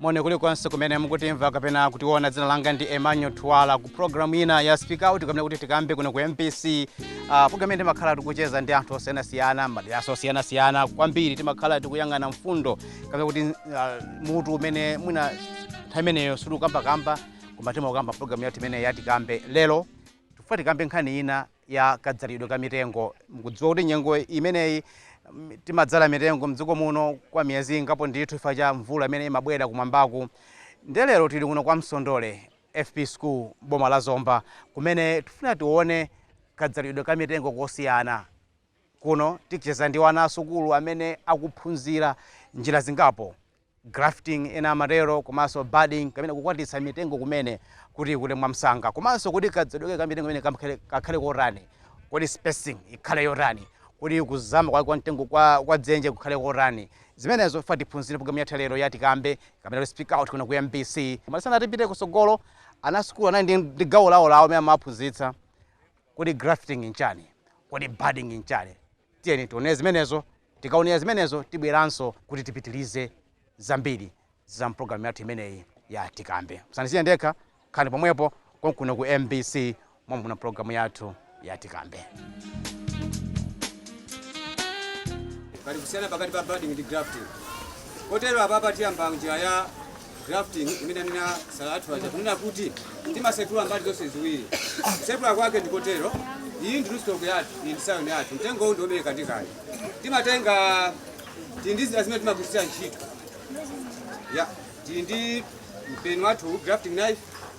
Moni kulikonse kumene mukutimva kapena kutiona. Dzina langa ndi Emmanuel Twala ku program ina ya Speak Out kapena kuti tikambe kuno ku MBC. Uh, program imene timakhala tikucheza ndi anthu osiyanasiyana madera osiyanasiyana kwambiri, timakhala tikuyang'ana mfundo kapena kuti uh, mutu umene mwina nthawi imeneyo ili m'kamwam'kamwa koma timakamba program yathu imene ya Tikambe lero tifuna tikambe nkhani ina ya kadzalidwe ka mitengo. Mukudziwa kuti nyengo imeneyi timadzala mitengo mdziko muno kwa miyezi ingapo ndithu chifukwa cha mvula imene imabwera kumwambaku. Ndiye lero tili kuno ku Msondole FP School m'boma la Zomba kumene tikufuna tione kadzalidwe ka mitengo kosiyana. Kuno ticheza ndi ana asukulu amene akuphunzira njira zingapo grafting ena amatero komanso budding kapena kukwatitsa mitengo imene kuti ikule mwamsanga komanso kuti kadzalidwe ka mitengo imene kamkhale- kakhale kotani kodi spacing ikhale yotani kuti kuzama kwa kwa mtengo kwa, kwa dzenje kukhale kotani zimenezo tifuna tiphunzire programu yathu lero ya tikambe kapena kuti speak out kuno ku mbc koma tisanapite kusogolo ana sukulu anali ndi- ndi gawo lawo lawo amene amaphunzitsa kodi grafting nchani kodi budding nchani Tiyeni tionere zimenezo. Tikaonera zimenezo tibweranso kuti tipitirize zambiri za m'programu yathu imeneyi ya Tikambe. Musandisiye ndekha, khalani pomwepo konkuno ku mbc momwe muna programu yathu ya Tikambe. pali kusiyana pakati pa budding ndi grafting kotero apapa tiyamba njira ya grafting imene anena asala athu aja kunena kuti timasepula mbali zonse ziwiri kusepula kwake ndikotero iyi ndi rootstock yathu iyi ndi scion yathu mtengo uwu ndiobereka kale timatenga tili ndi zida zimene timagwiritsira ntchito ya tili ndi mpeni wathu grafting knife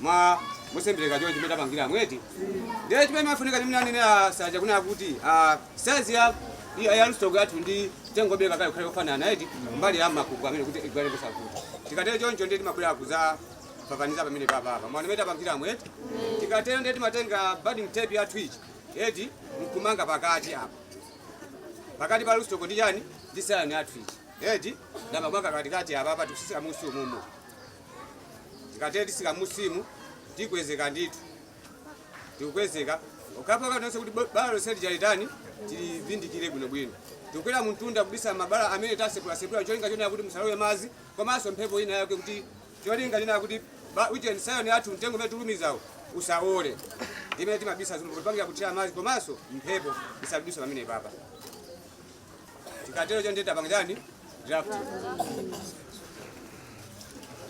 mwa mosembeleka choncho mmene tapangiramu eti ndiye chimene chimafunika chimene anenera asala aja kunena kuti ah, size ya ya- ya rootstock yathu ndi mtengo wobeleka kale ikhale kofanana eti mbali ya makuku amene kuti igwile ndiye kuti tikatero choncho ndiye timabwera kuza papaniza pamene papapa mwana amene tapangira mweti tikatero ndiye timatenga budding tape yathu ichi eti nkumanga pakati apa pakati pa rootstock ndi chani ndi scion yathu ichi eti ndikumanga pakatikati apa apa tikutsika m'musi umumu tikatere titsika m'musimu tikwezeke ndithu tikukwezeka mpaka konse kuti bo- bala lonse lija litani tilivindikire bwinobwino tikukwera mumtunda kubisa mabala amene tasepulasephula cholinga chonena kuti musalowe madzi komanso mphepo ina yake kuti cholinga chonena kuti ba- uje scion yathu mtengo umene tulumizawo usawole imene timabisa zinthu kupangira kuti madzi komanso mphepo isadutse pamenepapa Tikatero choncho tapanga chani? Graft.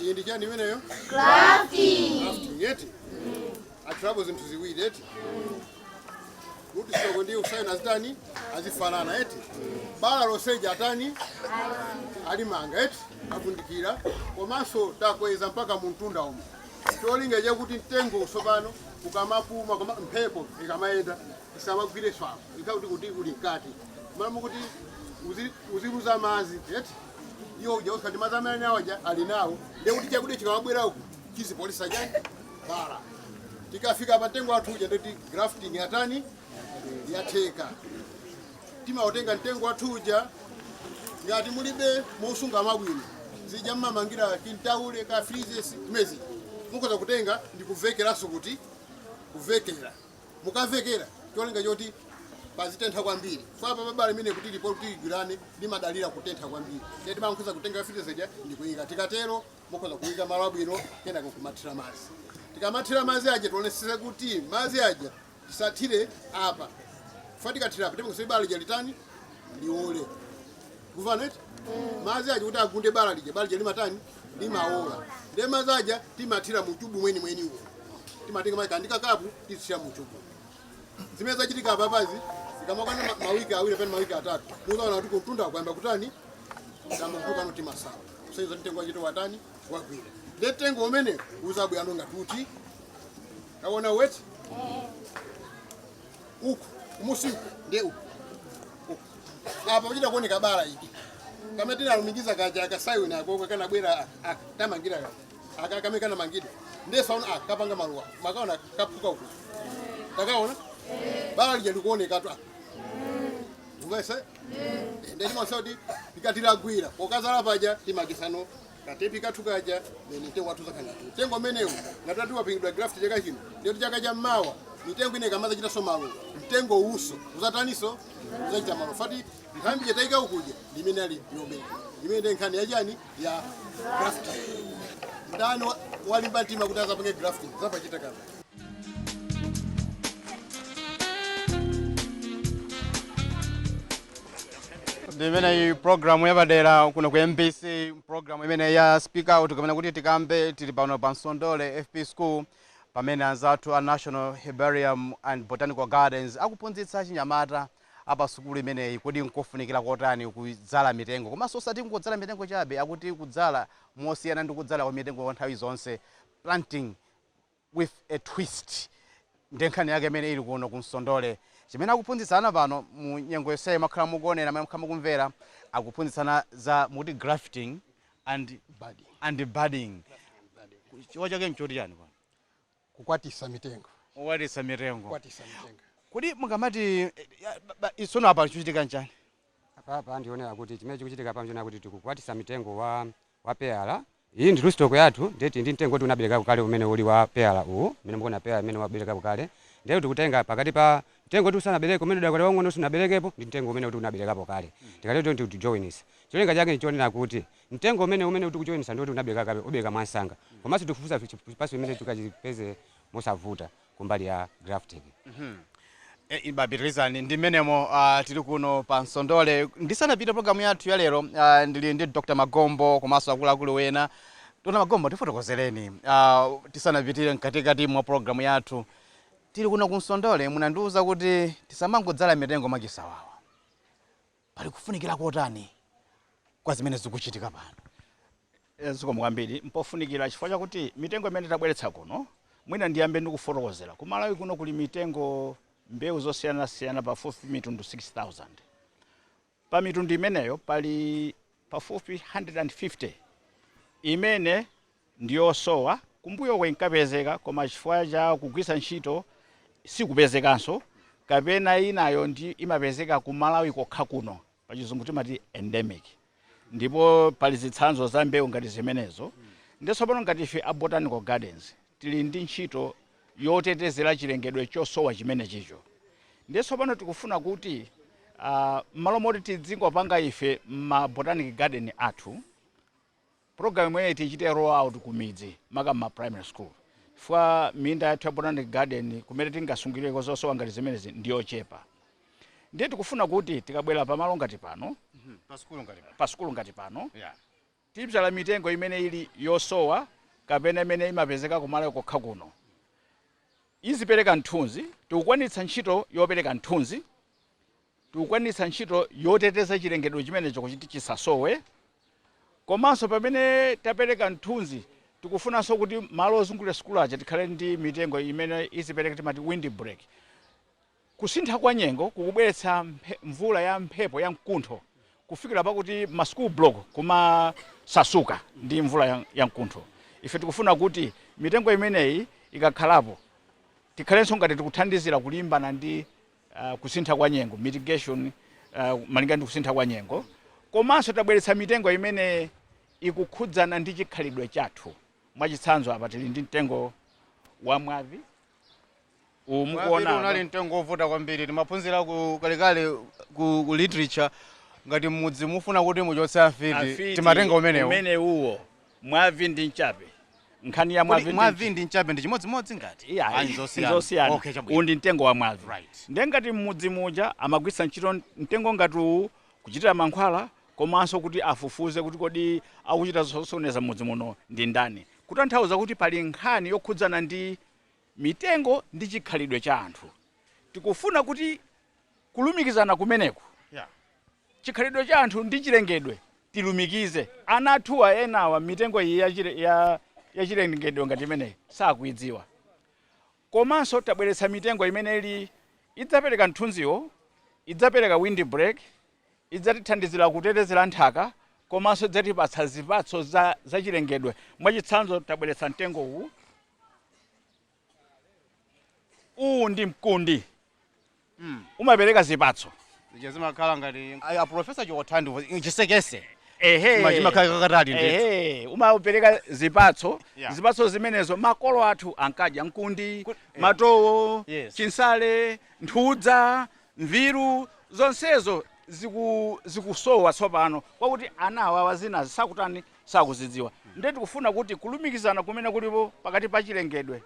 Iyi ndi chani imeneyo? Grafting eti? Akhalapo zinthu ziwiri eti? Kuti stock ndi scion azitani? Azifanana eti? Bala lonse lija atani? Alimanga eti? Atundikira. Komanso takweza mpaka mumtunda umu. Cholinga chakuti mtengo watsopano ukamapuma mphepo ikamayenda tisawagwirenso apo ikhala kuti kuti uli mkati malo mokuti uzi- uziluza madzi eti iwo uja usikati madzi amene anayo aja ali nawo ndiye kuti chakudya chikawabwera uku chizipoletsa chani bala tikafika pa mtengo wathu uja ndi yoti grafting yatani yatheka timautenga mtengo wathu uja ngati mulibe mosunga mwabwino zija mmamangira kintaule ka freezes mezi mukoza kutenga ndikuvekeranso kuti kuvekera mukavekera cholinga choti pazitentha kwambiri chifukwa apa pabala imene kuti lipo kuti ligwirane limadalira kutentha kwambiri ndiye timakhoza kutenga fitizija ndi kuyika tikatero mukhoza kuyika malo abwino kenako kumathira madzi tikamathira madzi aja tionetsetse kuti madzi aja tisathire apa chifukwa tikathira apa timachititsa bala lija litani liole kuvaneti madzi aja kuti agunde bala lija bala lija limatani limaola ndiye madzi aja timathira mu chubu mwenimwenimu timatenga madzi ndi kakapu tizithira mu chubu zimene zachitika apapazi zikamakwana ma- mawiki awiri pena mawiki atatu muzaona kuti kumtunda akuyamba kutani kuyamba kutuluka timasala kusonyeza mtengo wachita watani wagwira ndiye mtengo umene uzabwera nonga tuti kaone eti uku kumusi uku ndiye uku uku apa pachita kuoneka bala iki kamene tinalumikiza kaja akasaiwina akoko kanabwera aka aka tamangira kaja aka kamene kanamangidwa ndiye saona aka kapanga maluwa makaona kaphuka uku takaona bala lija likuonekatu apa ungese ndeti mwasoti tikatilagwira pokazala paja timakisano katepi kathu kaja then mtengo wathu zakhala ngati mtengo umenewu ngati wapangidwa graft chaka chino ndiyoti chaka chamawa mitengo ina ikamazachitanso maluwa mtengo uwuso uzataniso uzachita maluwa chifukwa nthambi yatayika ukuja ndi imene ali yomera imene ndi nkhani yachani ya graft ndani wa- walimba mtima kuti azapange graft zapachita kama ndimeneyi programu yapadera kuno ku mbc programu imeneyi ya speak out kapena kuti tikambe tili pano pa Nsondole fp school pamene anzathu a national herbarium and botanical gardens akuphunzitsa achinyamata apa sukulu imeneyi kodi nkofunikira kotani kudzala mitengo komanso osati kungodzala mitengo chabe akuti kudzala mosiyana ndi kudzala kwa mitengo kwa nthawi zonse planting with a twist nde nkhani yake imene ili kuno ku Nsondole chimene akuphunzitsa ana pano mu nyengo yonseyi mwakhala mukuonera mwina mwakhala mukumvera akuphunzitsa ana za akuti grafting and budding and budding chifukwa chake nchoti chani kwa kukwatisa mitengo kukwatisa mitengo kukwatisa mitengo kodi mukamati isono apa chikuchitika nchani apa apa ndionera kuti chimene chikuchitika apa ndionera kuti tikukwatisa mitengo wa wa peyala. Iyi ndi rootstock yathu ndiye tili ndi mtengo woti unaberekapo kale umene uli wa peyala uwu mmene mukuonera peyala imene waberekapo kale ndiye tikutenga pakati pa mtengo woti usanabereke umene udakali waung'ono sunaberekepo ndi mtengo umene uti unaberekapo kale tikatero choncho tikujowinisa cholinga chake nchonena kuti mtengo umene tikujowinisa ndi woti unabereka kale ubereka mwansanga komanso tikufufuza chipatso chimene tikachipeze mosavuta kumbali ya grafting. Eeh, bapitilizani ndi mmenemo ah, tili kuno pa Nsondole. Ndisanapite programu yathu ya lero ah, ndili ndi Dr. Magombo komanso akuluakulu wena. Dr. Magombo tifotokozereni ah, tisanapitire mkatikati mwa programu yathu. Tili kuno ku Nsondole munandiuza kuti tisamangodzala mitengo mwachisawawa. Pali kufunikira kotani kwa zimene zikuchitika pano? Zikomo kwambiri. Mpofunikira chifukwa chakuti mitengo imene tabweretsa kuno, mwina ndiyambe ndi kufotokozera. Ku Malawi kuno kuli mitengo, mbewu zosiyanasiyana pafupifupi mitundu 6,000. Pa mitundu imeneyo pali pafupifupi 150 imene. ndiyosowa, kumbuyoko inkapezeka koma chifukwa cha kugwiritsa ntchito sikupezekanso kapena inayo imapezeka ku Malawi kokha kuno, pachizungu timati endemic, ndipo pali zitsanzo za mbewu ngati zimenezo nde tsopano ngati ife a Botanic Gardens tili ndi ntchito yotetezera chilengedwe chosowa chimenechicho nde tsopano tikufuna kuti mmalo moti tidzingopanga ife mma Botanic Garden athu, Programu imeneyi tiichite roll out kumidzi maka mma primary school chifukwa minda yathu ya botanic garden kumene tingasungireko zosowa ngati zimenezi ndi yochepa ndiye tikufuna kuti tikabwera pamalo ngati pano, pa sukulu ngati pano tibzala mitengo imene ili yosowa kapena imene imapezeka ku Malawi kokha kuno izipereka mthunzi, tikukwanitsa ntchito yopereka mthunzi. tikukwanitsa ntchito yoteteza chilengedwe chimenecho kuti chisasowe komanso pamene tapereka mthunzi tikufunanso kuti malo ozungulira sukulu aja tikhale ndi mitengo imene izipereka timati wind break. Kusintha kwa nyengo kukubweretsa mvula ya mphepo ya mkuntho kufikira pakuti ma school block kumasasuka ndi mvula ya mkuntho. Ife tikufuna kuti mitengo imeneyi ikakhalapo tikhalenso ngati tikuthandizira kulimbana ndi uh, kusintha kwa nyengo mitigation uh, malinga ndi kusintha kwa nyengo komanso tabweretsa mitengo imene ikukhudzana ndi chikhalidwe chathu mwachitsanzo apa tili ndi mtengo wa mwavi uwu Mwavi mukuona apa. unali mtengo wovuta kwambiri timaphunzira ku kalekale ku, ku literature ngati mmudzi mufuna kuti muchotse afiti Afiti timatenga umenewo umene uwo Mwavi ndi Mchape. Nkhani ya Kodi mwavi ndi ndi mchape ndi chimodzimodzi ngati? Ayi, Iyayi, nzosiyana. nzosiyana. Okay, chabwino. Uwu ndi mtengo wa mwavi. Right. Ndiye ngati m'mudzi muja amagwiritsa ntchito mtengo ngati uwu kuchitira mankhwala komanso kuti afufuze kuti kodi akuchita zosokoneza m'mudzi muno ndi ndani. Kutanthauza kuti pali nkhani yokhudzana ndi mitengo ndi chikhalidwe cha anthu. Tikufuna kuti kulumikizana kumeneko Yeah. chikhalidwe cha anthu ndi chilengedwe tilumikize ana athuwa enawa mitengo iyi ya chile ya ya chilengedwe ngati imeneyi sakuidziwa komanso tabweretsa mitengo imene ili idzapereka mthunziwo idzapereka wind break idzatithandizira kutetezera nthaka komanso idzatipatsa zipatso za, za chilengedwe mwachitsanzo tabweretsa mtengo uwu uwu ndi mkundi Mm. umapereka zipatso Zija zimakhala ngati a professor chokotha ndi chisekese. ehe Chima- chimakhala kakatali ndithu. ehe umapereka zipatso Yeah. zipatso zimenezo makolo athu ankadya mkundi Ku- eh. matowo Yes. chinsale nthudza mviru zonsezo ziku- zikusowa tsopano kwakuti ana awawa zina sakutani sakuzidziwa. Ndiye tikufuna kuti kulumikizana kumene kulipo pakati pa chilengedwe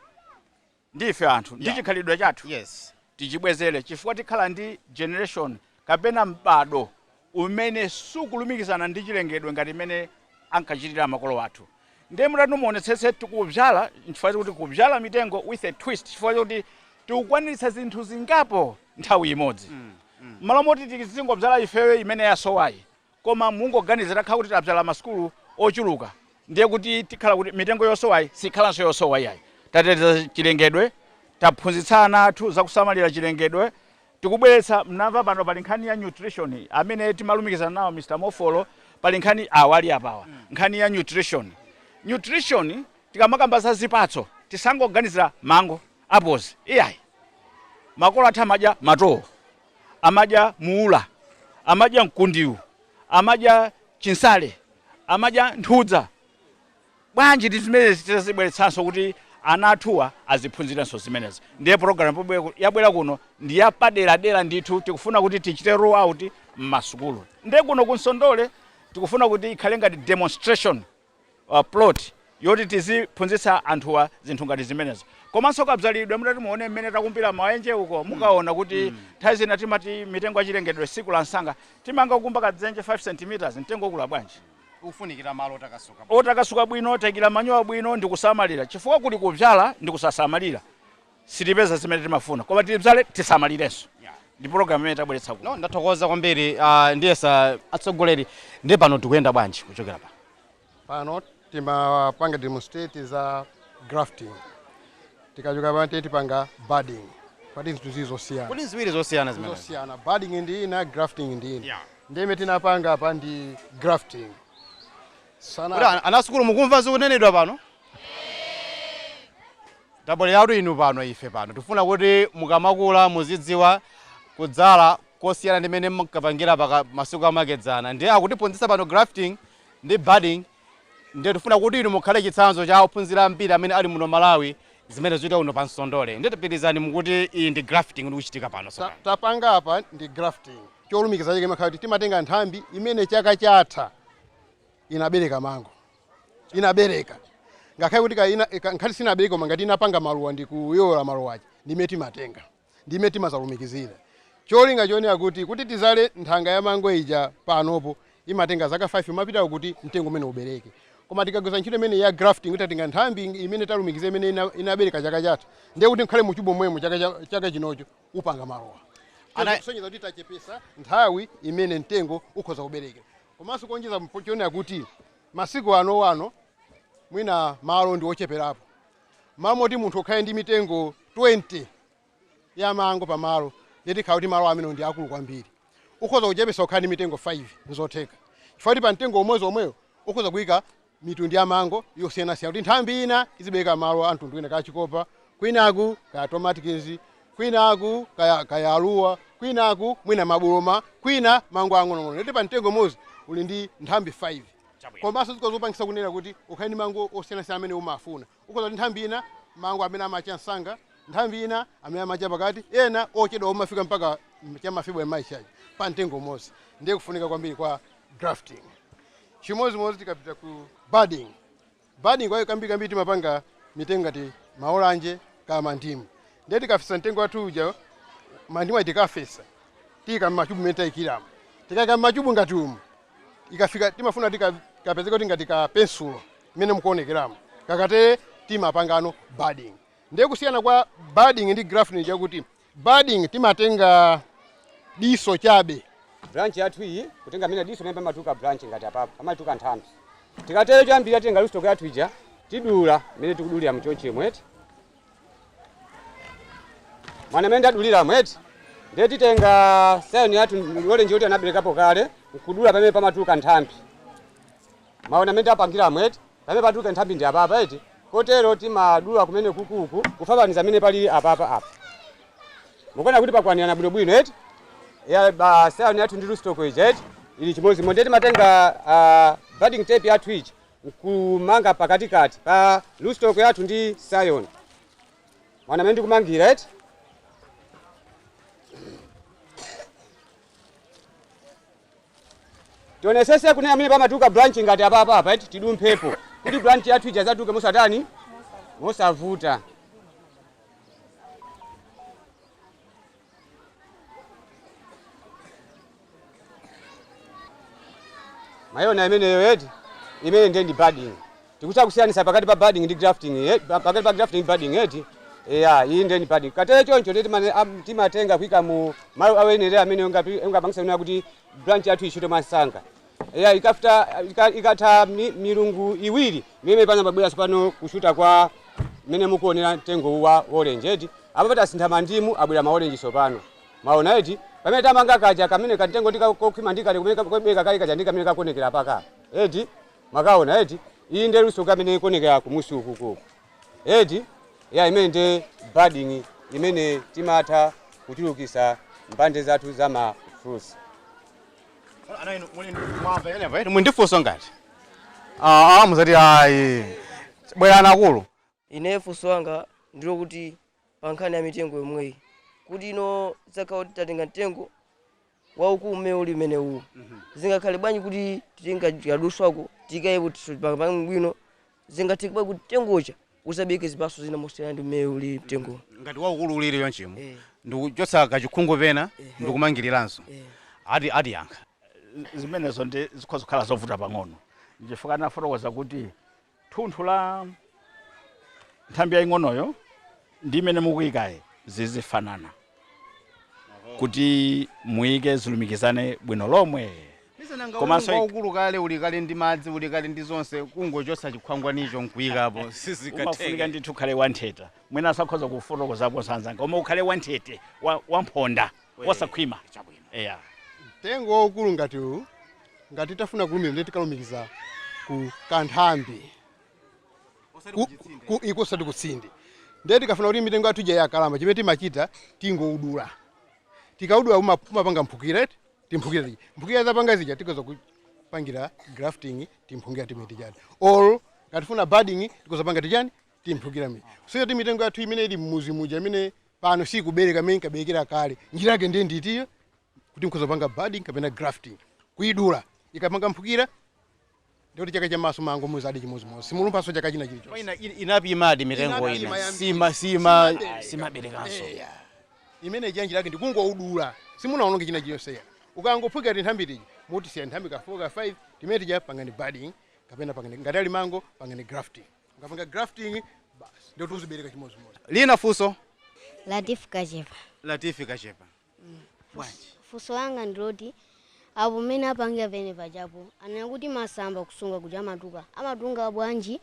ndi ife anthu ndi Yeah. chikhalidwe chathu Yes. tichibwezere chifukwa tikhala ndi generation kapena m'bado umene sukulumikizana ndi chilengedwe ngati mmene ankachitira makolo athu ndiye mutati muonetsetse tikubzala nchifukwa kuti kubzala mitengo with a twist chifukwa choti tikukwanitsa zinthu zingapo nthawi imodzi mmalo moti tizingobzala ifeyo imene yasowayi Koma mungoganiza takhala kuti tabzala masukulu ochuluka ndiye kuti tikhala kuti mitengo yosowayi sikhalanso yosowa iyayi. Tateteza chilengedwe, taphunzitsa ana athu za kusamalira chilengedwe, tikubweretsa, mnamva pano pali nkhani ya nutrition amene timalumikizana nawo Mr. Mofolo pali nkhani awa ali apawa nkhani ya nutrition. Nutrition tikamakamba za zipatso tisangoganizira mango, apples iyayi. Makolo athu amadya matowo. amadya muula, amadya mkundiu, amadya chinsale, amadya nthudza. Bwanji ndi zimenezi titazibweretsanso kuti ana athuwa aziphunzirenso zimenezi. Ndiye programu yabwera kuno ndi yapaderadera ndithu tikufuna kuti tichite roll out mmasukulu. Nde kuno ku Nsondole tikufuna kuti ikhale ngati demonstration. plot yoti tiziphunzitsa anthuwa zinthu ngati zimenezo komanso kabzalidwe mutati muone mmene takumbira maenje uko mukaona kuti nthawi zina timati mitengo ya chilengedwe sikula msanga timangokumba kadzenje 5 centimeters mtengo ukula bwanji ufunikira malo otakasuka otakasuka bwino taikira manyowa bwino ndikusamalira chifukwa kuli kubzala ndikusasamalira sitipeza zimene timafuna koma tibzale tisamalirenso ndi program imene tabweretsa kuno ndathokoza kwambiri uh, ndiyesa atsogoleri ndiye pano tikuyenda bwanji kuchokera pano timapanga demonstrate za grafting tikachoka pano ndiye tipanga budding pati zinthu zili zosiyana kodi ziwiri zosiyana zimene zosiyana budding ndi ina grafting ndi ina Yeah. ndi imene tinapanga apa ndi grafting Kodi ana, ana sukulu mukumva zikunenedwa pano? Tabwereratu inu pano, ife pano tikufuna kuti mukamakula muzidziwa kudzala kosiyana ndi mmene mumkapangira masiku amakedzana. Ndiye akutiphunzitsa pano grafting ndi budding ndiye tifuna kuti inu mukhale chitsanzo cha ophunzira ambiri amene ali muno Malawi zimene zikuchitika kuno pa Msondole. Ndiye tipitirizani mukuti iyi ndi grafting ndikuchitika pano Ta- tsopano. tapanga apa ndi grafting cholumikiza chake imakhala kuti timatenga nthambi imene chaka chatha inabereka mango inabereka ngakhale kuti kapena ka- nkhani sinabereke koma ngati inapanga maluwa ndi kuyoyoka maluwa aja ndi imene timatenga ndi imene timazalumikizira cholinga chonena kuti tikati tizale nthanga ya mango ija panopo imatenga zaka 5 kupita uko kuti mtengo umene uja ubereke koma tikagwiritsa ntchito imeneyi ya grafting kuti tatenga nthambi imene talumikiza imene ina- inabereka chaka chatha ndiye kuti ngakhale muchubu momwemo chaka cha- chaka chinocho upanga maluwa Ana- kusonyeza kuti tachepesa nthawi imene mtengo ukhoza kuberekera Komanso kuonjeza ponena kuti masiku ano ano mwina malo ndi ocheperapo, m'malo moti munthu ukhale ndi mitengo 20 ya mango pa malo ndiye tikhala kuti malo amenewo ndi akulu kwambiri. Ukhoza kuchepetsa kukhala ndi mitengo 5 n'zotheka chifukwa kuti pa mtengo umodzi womwewo ukhoza kuika mitundu ya mango yosiyanasiyana kuti nthambi ina izibereka mango a mtundu wina, kaya chikopa kwinaku kaya Tommy Atkins kwinaku kaya kalisele kwinaku mwina mabuloma kwina mango ang'onoang'ono yet pa mtengo umodzi uli ndi nthambi 5 Chabwino. komanso zikhoza kupangisa kunena kuti ukhale ndi mango osiyanasiyana amene umafuna Ukhoza kuti nthambi ina mango amene amacha msanga, nthambi ina amene amacha pakati, ena ochedwa omafika mpaka cha ma February, March aja pa mtengo umodzi. Ndiye kufunika kwambiri kwa grafting. Chimodzimodzi tikapita ku budding. Budding yo kambirimbiri timapanga mitengo ngati maolanje kaya mandimu. Ndiye tikafesa mtengo wathu uja, mandimu aja tikafesa, tiika m'machubu mmene taikiramo. Tikaika m'machubu ngati umu, ikafika timafuna kapezeke kuti ngati ka pensulo mmene mukuonekeramo kakatere timapangano budding ndiye kusiyana kwa budding ndi grafting chakuti budding timatenga diso chabe branch yathu iyi kutenga mwina diso limene pamatuluka branch ngati apapo pamatuluka nthambi tikatero choyambirira titenga rootstock yathu ija tidula mmene tikudulira mchonchi mwa T mwaona mmene tadulilamo eti ndiye timatenga scion yathu ya orange kuti anaberekapo kale nkudula pamene pamatuluka nthambi maona amene tapangiramo eti pamene patuluka nthambi ndi apapa eti kotero timadula kumene kukuku kufananiza amene pali apapa apa mukuona kuti pakwanirana bwinobwino eti ya pa scion yathu ndi rootstock ija eti ili chimodzimodzi ndiye timatenga ah, budding tape yathu ija nkumanga pakatikati pa rootstock yathu ndi scion mwaona mmene ndikumangira eti tionesese kuti pamene pamatuluka branch ngati apapa apa eti tidumphepo kuti branch yathu ija izatuluke mosatani mosavuta mwaiona imeneyo eti imene ndiye ndi budding tikutha kusiyanisa pakati pa budding ndi grafting eh, pa- pakati pa grafting ndi budding eti eya iyi ndiye ndi budding ikatere choncho ndiye timane- am- timatenga kuika mu malo oyenera amene ungapangisa kuti branch yathu ishute mwamsanga Eya, ikafta, ika, ikatha mi, milungu iwiri mimene pana pabwera tsopano kushuta kwa mmene mukuonera mtengo uwu wa orange eti apa pati asintha mandimu abwera ma orange tsopano maona eti pamene tamanga kaja kamene kamtengo ndikakokhwima ndikale kumene ka- kobeka kale kaja ndikamene kakuonekera paka eti makaona eti iyi nde rootstock imene ikuonekera kumusi uku kuku eti ya imene nde budding imene timatha kuchulukisa mbande zathu za ma fruits muli ndi funso ngati Ah, ah, muzati ayi bwerani akulu ine funso langa ndilo kuti pa nkhani ya mitengo yomweyi kuti inu zakhala kuti tatenga mtengo waukulu mmene uli umene uwu zingakhale bwanji kuti titenga tikadulako tikaikepo bwino zingatheke bwanji kuti mtengo uja uzabeke zipatso zina mosiyana ndi mmene uli mtengo ngati waukulu uliri chonchimo Eh. ndikuchotsa kachikhungu pena ndikumangiriranso Eh. ati atiyankha zimenezo ndi zikhoza kukhala zovuta pang'ono ndichifukwa anafotokoza kuti thunthu la nthambi yaying'onoyo ndi imene mukuikayi zizifanana kuti muike zilumikizane bwino lomwe Komanso komanso waukulu kale uli kale ndi madzi uli kale ndi zonse kungochotsa chikhwangwanicho nkuikapo umafunika sizikatheka ndithu ukhale wanthete mwinanso akhoza kufotokozapo anzanga koma ukhale wanthete wa- wamphonda wasakhwima chabwino eya mtengo waukulu ngati uwu ngati tafuna kulumikiza ndi tikalumikiza ku kanthambi osati ku- kuchitsinde ku- eko osati kutsinde ndiye tikafuna kuti mitengo yathu ija yakalamba chimene timachita tingoudula tikaudula uma- umapanga mphukira eti timphukira tija mphukira zapanga zija tikhoza kupangira grafting timphukira timene tijani or ngati tifuna budding tikhoza panga tijani timphukira mi so yoti mitengo yathu imene ili mmuzi muja imene pano sikubereka imene inkaberekera kale njira yake ndiye ndi iyo kuti mkhoza panga budding kapena grafting kuidula ikapanga mphukira Ndiye kuti chaka chamawaso mango muzadya chimozimozi simulumphaso chaka china chili chonse. Ina inaphimadi mitengo ina sima sima simaberekanso eh. ya. Imene chanji chake ndikungoudula simunaononge china chili chonse ya. Ukangophukira tinthambi tija mutisiya nthambi ka 4 ka 5 timene tija pangani budding kapena pangani ngati ali mango pangani grafting. Ukapanga grafting basi ndiye tizibereka chimozimozi. Lina fuso. Latifu kachepa. Latifu kachepa. bwanji funso langa ndi loti apo mmene apangira pene pachapo anena kuti masamba kusunga kuja amatuluka amatunga bwanji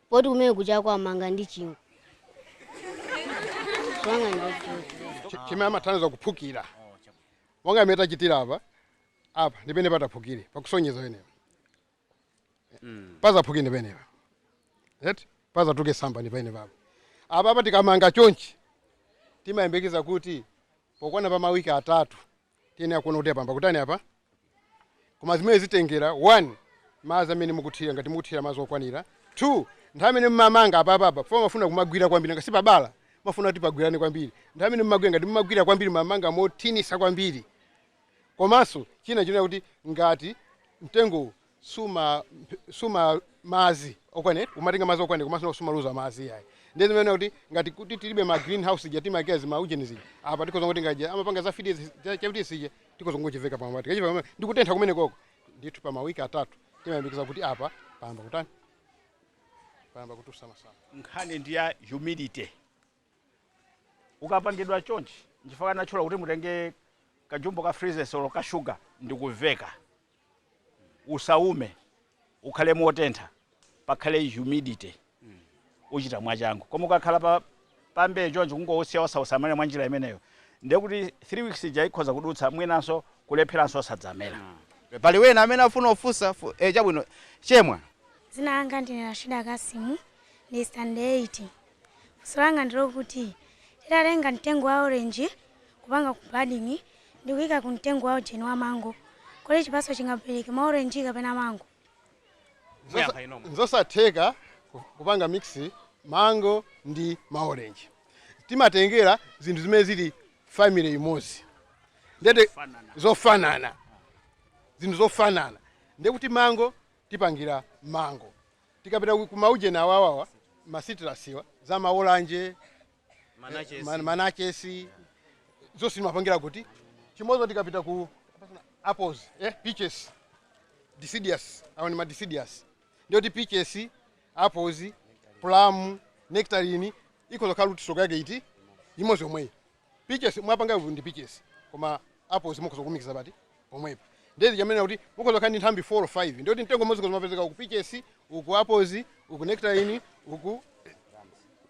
poti kumene kujako amanga ndi chingwe funso langa ndi loti Chi- chimene amathandiza kuphukira monga imene tachitira apa apa ndi pene pataphukire pakusonyeza penepo mm. pazaphuke ndi pamenepa eti pazatuluke samba ndi pamenepapo apa apa tikamanga chonchi timayembekeza kuti pokwana pa mawiki atatu tiyenera kuona kuti apa payamba kutani apa koma zimene zimatengera one madzi amene mukuthira ngati mukuthira madzi okwanira two nthawi amene mmamanga apapa pamafuna kumagwira kwambiri ngati si pabala pamafuna kuti pagwirane kwambiri nthawi amene mmagwira ngati mmagwira kwambiri mamanga mothinisa kwambiri Komanso china chonena kuti ngati mtengowu suuma suuma madzi okwane umatenga madzi okwanira komanso sumaluza madzi iyayi ndiye timanena kuti ngati kuti tilibe ma green house ija timayikira ma ujeni zija apa tikhoza kungotenga ija amapanga za freezes cha freezes chija tikhoza kungochiveka pamwamba tikachiveka pamwamba ndi kutentha kumene kuja ndithu pa mawiki atatu timayembekeza kuti apa payamba kutani payamba kutusa masamba. nkhani ndi ya humidity ukapangidwa chonchi nchifukwa anatchula kuti mutenge kajumbo ka freezes olo ka sugar ndikuveka usaume ukhale motentha pakhale humidity uchira mwachangu koma ukakhala pa pambe chonchi kungousiya osausamalira mwa njira imeneyo ndiye kuti 3 weeks ija ikhoza kudutsa mwinanso kulepheranso osadzamera pali wena amene afuna ofunsa fu- eh, chabwino chemwa Dzina langa ndine Rashida Kasimu ndili standard 8. Funso langa ndi lokuti titatenga mtengo wa orange kupangako budding ndikuika ku mtengo wa ujeni wa mango kodi chipatso chingabereke ma orange kapena mango? Muyankha inu nomwe. Nzosatheka kupanga mix mango ndi ma orange. Timatengera zinthu zimene zili family imodzi ndiye zofanana zinthu zofanana ndiye kuti mango tipangira mango. tikapita ku ma ujeni awawawa ma citrus-wa za malalanje manachesi zonse timapangira kuti chimodzi. Tikapita ku apples eh, peaches deciduous awo ni ma deciduous ndiyoti peaches apples plum nectarine ikhoza kukhala kuti stock yake ndi imodzi yomweyi Peaches mwapanga vu ndi peaches koma apples mukhoza kulumikiza pamtengo pomwepo ndiye zija ndimanena kuti mukhoza kukhala ndi nthambi 4 or 5 ndiye kuti mtengo umodzi ukhoza kumapezeka uku peaches uku apples uku nectarine uku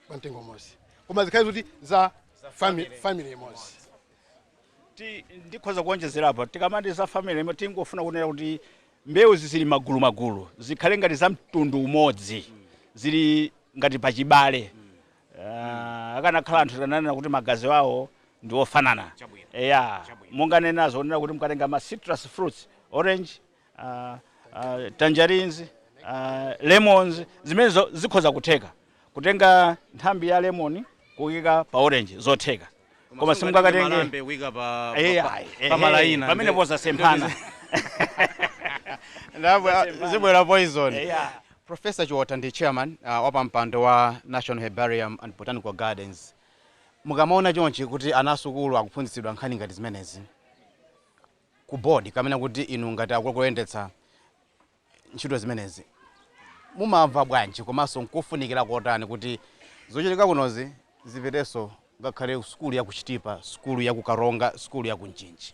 pa mtengo umodzi koma zikhale zoti za family, family imodzi Ti- ndikhoza kuonjezera apa tikamati za family imodzi tikufuna kunena kuti mbewu zizili magulu magulu zikhale ngati za mtundu umodzi zili ngati pachibale Ah, akanakhala anthu tikanena kuti magazi awo ndi ofanana Chabwino. eya Chabwino. munganenazo kunena kuti mukatenga ma citrus fruits orange ah, ah, tangerines ah, lemons zimenezo zikhoza kutheka kutenga nthambi ya lemon kuyika pa orange zotheka koma simungakatenge malambe kuika pa Eh, pa- ayi, pa- eh, pa malaina pamene Ndi- pozasemphana Ndabwe- zibwera poison Yeah. professor Chiotha ndi chairman uh, wa pampando wa national herbarium and botanical gardens mukamaona chonchi kuti ana asukulu akuphunzitsidwa nkhani ngati zimenezi ku board komanso kuti inu ngati akuyendetsa ntchito zimenezi. Mumamva bwanji komanso nkofunikira kotani kuti zochitika kunozi zipitenso ngakhale sukulu ya ku Chitipa, sukulu ya ku Karonga, sukulu ya ku Mchinji?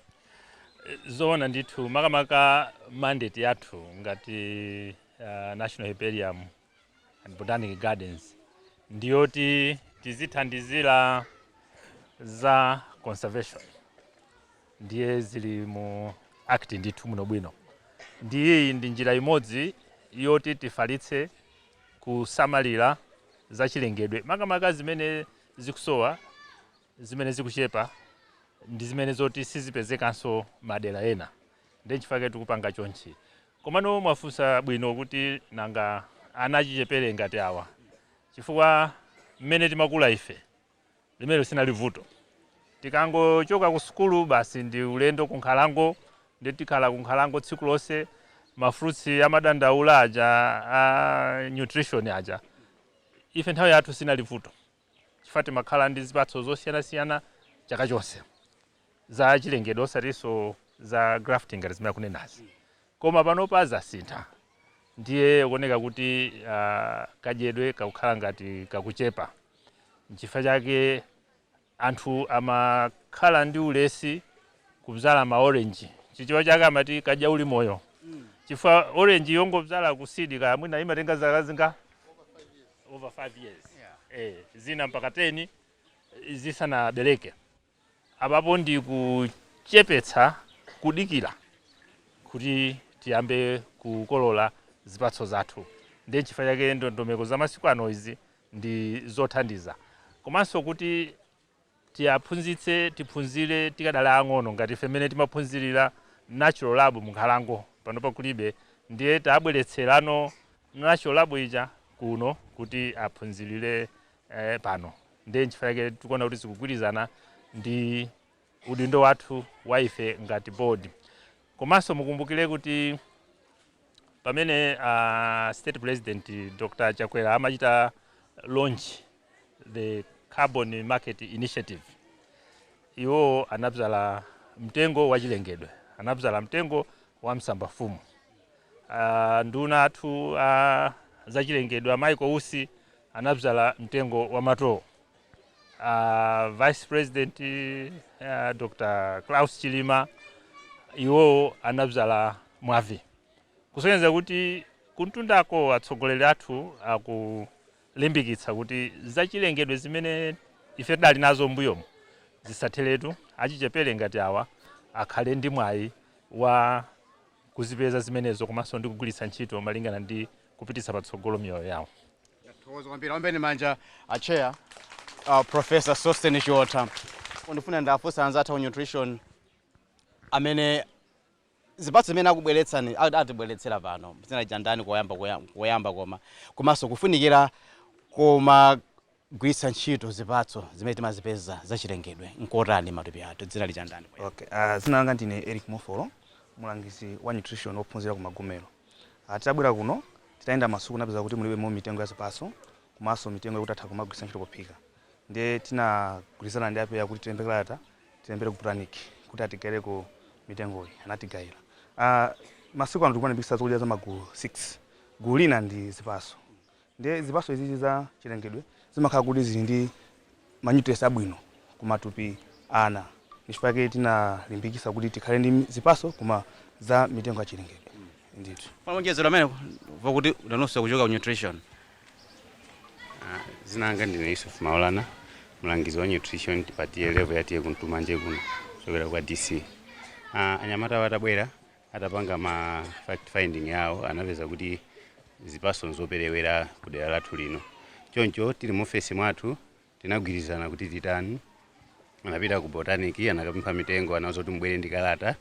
Zoona ndithu, makamaka mandate yathu ngati uh, National Herbarium Botanic Gardens ndiyoti tizithandizira za conservation ndiye zili mu act ndithu bwinobwino ndiye iyi ndi njira imodzi yoti tifalitse kusamalira zachilengedwe makamaka zimene zikusowa zimene zikuchepa ndi zimene zoti sizipezekanso madera ena ndi chifukwa chake tikupanga chonchi Komano mwafunsa bwino kuti nanga ana achichepere ngati awa chifukwa mmene timakula ife limenelo sinali vuto tikangochoka ku sukulu basi ndi ulendo ku nkhalango nde tikhala ku nkhalango tsiku lonse ma fruits amadandaula aja a nutrition aja ife nthawi yathu sinali vuto. chifukwa timakhala ndi zipatso zosiyanasiyana chaka chonse za chilengedwe osatinso za grafting ngati zimene akunenazi koma panopa zasintha ndiye kuoneka kuti uh, kadyedwe kakukhala ngati kakuchepa nchifukwa chake anthu amakhala ndi ulesi kubzala maorenji chichewa chake amati kadya uli moyo chifukwa orange yongobzala ku seed kaya mwina imatenga zaka zinga over 5 years yeah. eh, zina mpaka 10 zisanabereke apapo ndi kuchepetsa kudikira kuti tiyambe kukolola zipatso zathu ndiye n'chifukwa chake ndondomeko za masiku ano izi ndi zothandiza komanso kuti Tiaphunzitse tiphunzire tikadali aang'ono ngati ife mmene timaphunzirira natural lab m'nkhalango, panopa kulibe ndiye tabweretserano natural lab ija kuno kuti aphunzirire pano ndiye n'chifukwa chake tikuona kuti zikugwirizana ndi udindo wathu wa ife ngati board. Komanso mukumbukire kuti pamene a State President Dr Chakwera amachita launch the carbon market initiative iwo anabzala mtengo wachilengedwe anabzala mtengo wa msambafumu uh, nduna athu a uh, zachilengedwe a Michael Usi anabzala mtengo wa matoo uh, vice president uh, Dr Klaus Chilima iwowo anabzala mwavi kusonyeza kuti kumtundako atsogoleri athu aku limbikitsa kuti zachilengedwe zimene ife tidali nazo m'mbuyomu zisatheretu, achichepere ngati awa akhale ndi mwayi wa kuzipeza zimenezo komanso ndi kugwiritsa ntchito malingana ndi kupititsa patsogolo miyoyo yawo. Thokoza kwambiri ombeni manja a chair uh, Professor Sosten Chiotha. Ndifuna ndiafunse anzathu ku nutrition amene zipatso zimene akubweretsani atibweretsera pano dzina lija ndani koyamba koma komanso kufunikira komagwiritsa ntchito zipatso zimene timazipeza zachilengedwe nkotani m'matupi athu dzina lija ndani okay uh, dzina langa ndine Eric Mofolo mulangizi wa nutrition ophunzira ku magomero uh, titabwera kuno titayenda m'masukulu tinapeza kuti mulibemo mitengo ya zipatso komanso mitengo yokuti atha kumagwiritsa ntchito pophika ndiye tinagwirizana ndi apeya kuti tilembe kalata tilembere ku Botanic kuti atigaireko mitengoyi. Anatigaira. Masiku ano tikumalimbikitsa zokudya za magulu 6. Gulu lina ndi zipaso. Ndiye zipaso izizi za chilengedwe zimakhala kuti zili ndi ma nutrients abwino ku matupi a ana. Ndichifukwa chake tinalimbikitsa kuti tikhale ndi zipaso koma za mitengo ya chilengedwe ndithu. Pongowonjezera pamenepo, pakuti nanunso mukuchokera ku nutrition, Ah, dzina langa ndine yusuf maulana mlangizi wa nutrition pa TA level ya TA Kuntumanje kuno kuchokera kwa dc ah, anyamatawa atabwera atapanga ma fact finding yawo anapeza kuti zipatso nzoperewera ku dera lathu lino choncho tili mu ofesi mwathu Tinagwirizana kuti titani. Anapita ku botanic anakapempha mitengo anauzidwa kuti mubwere ndi kalata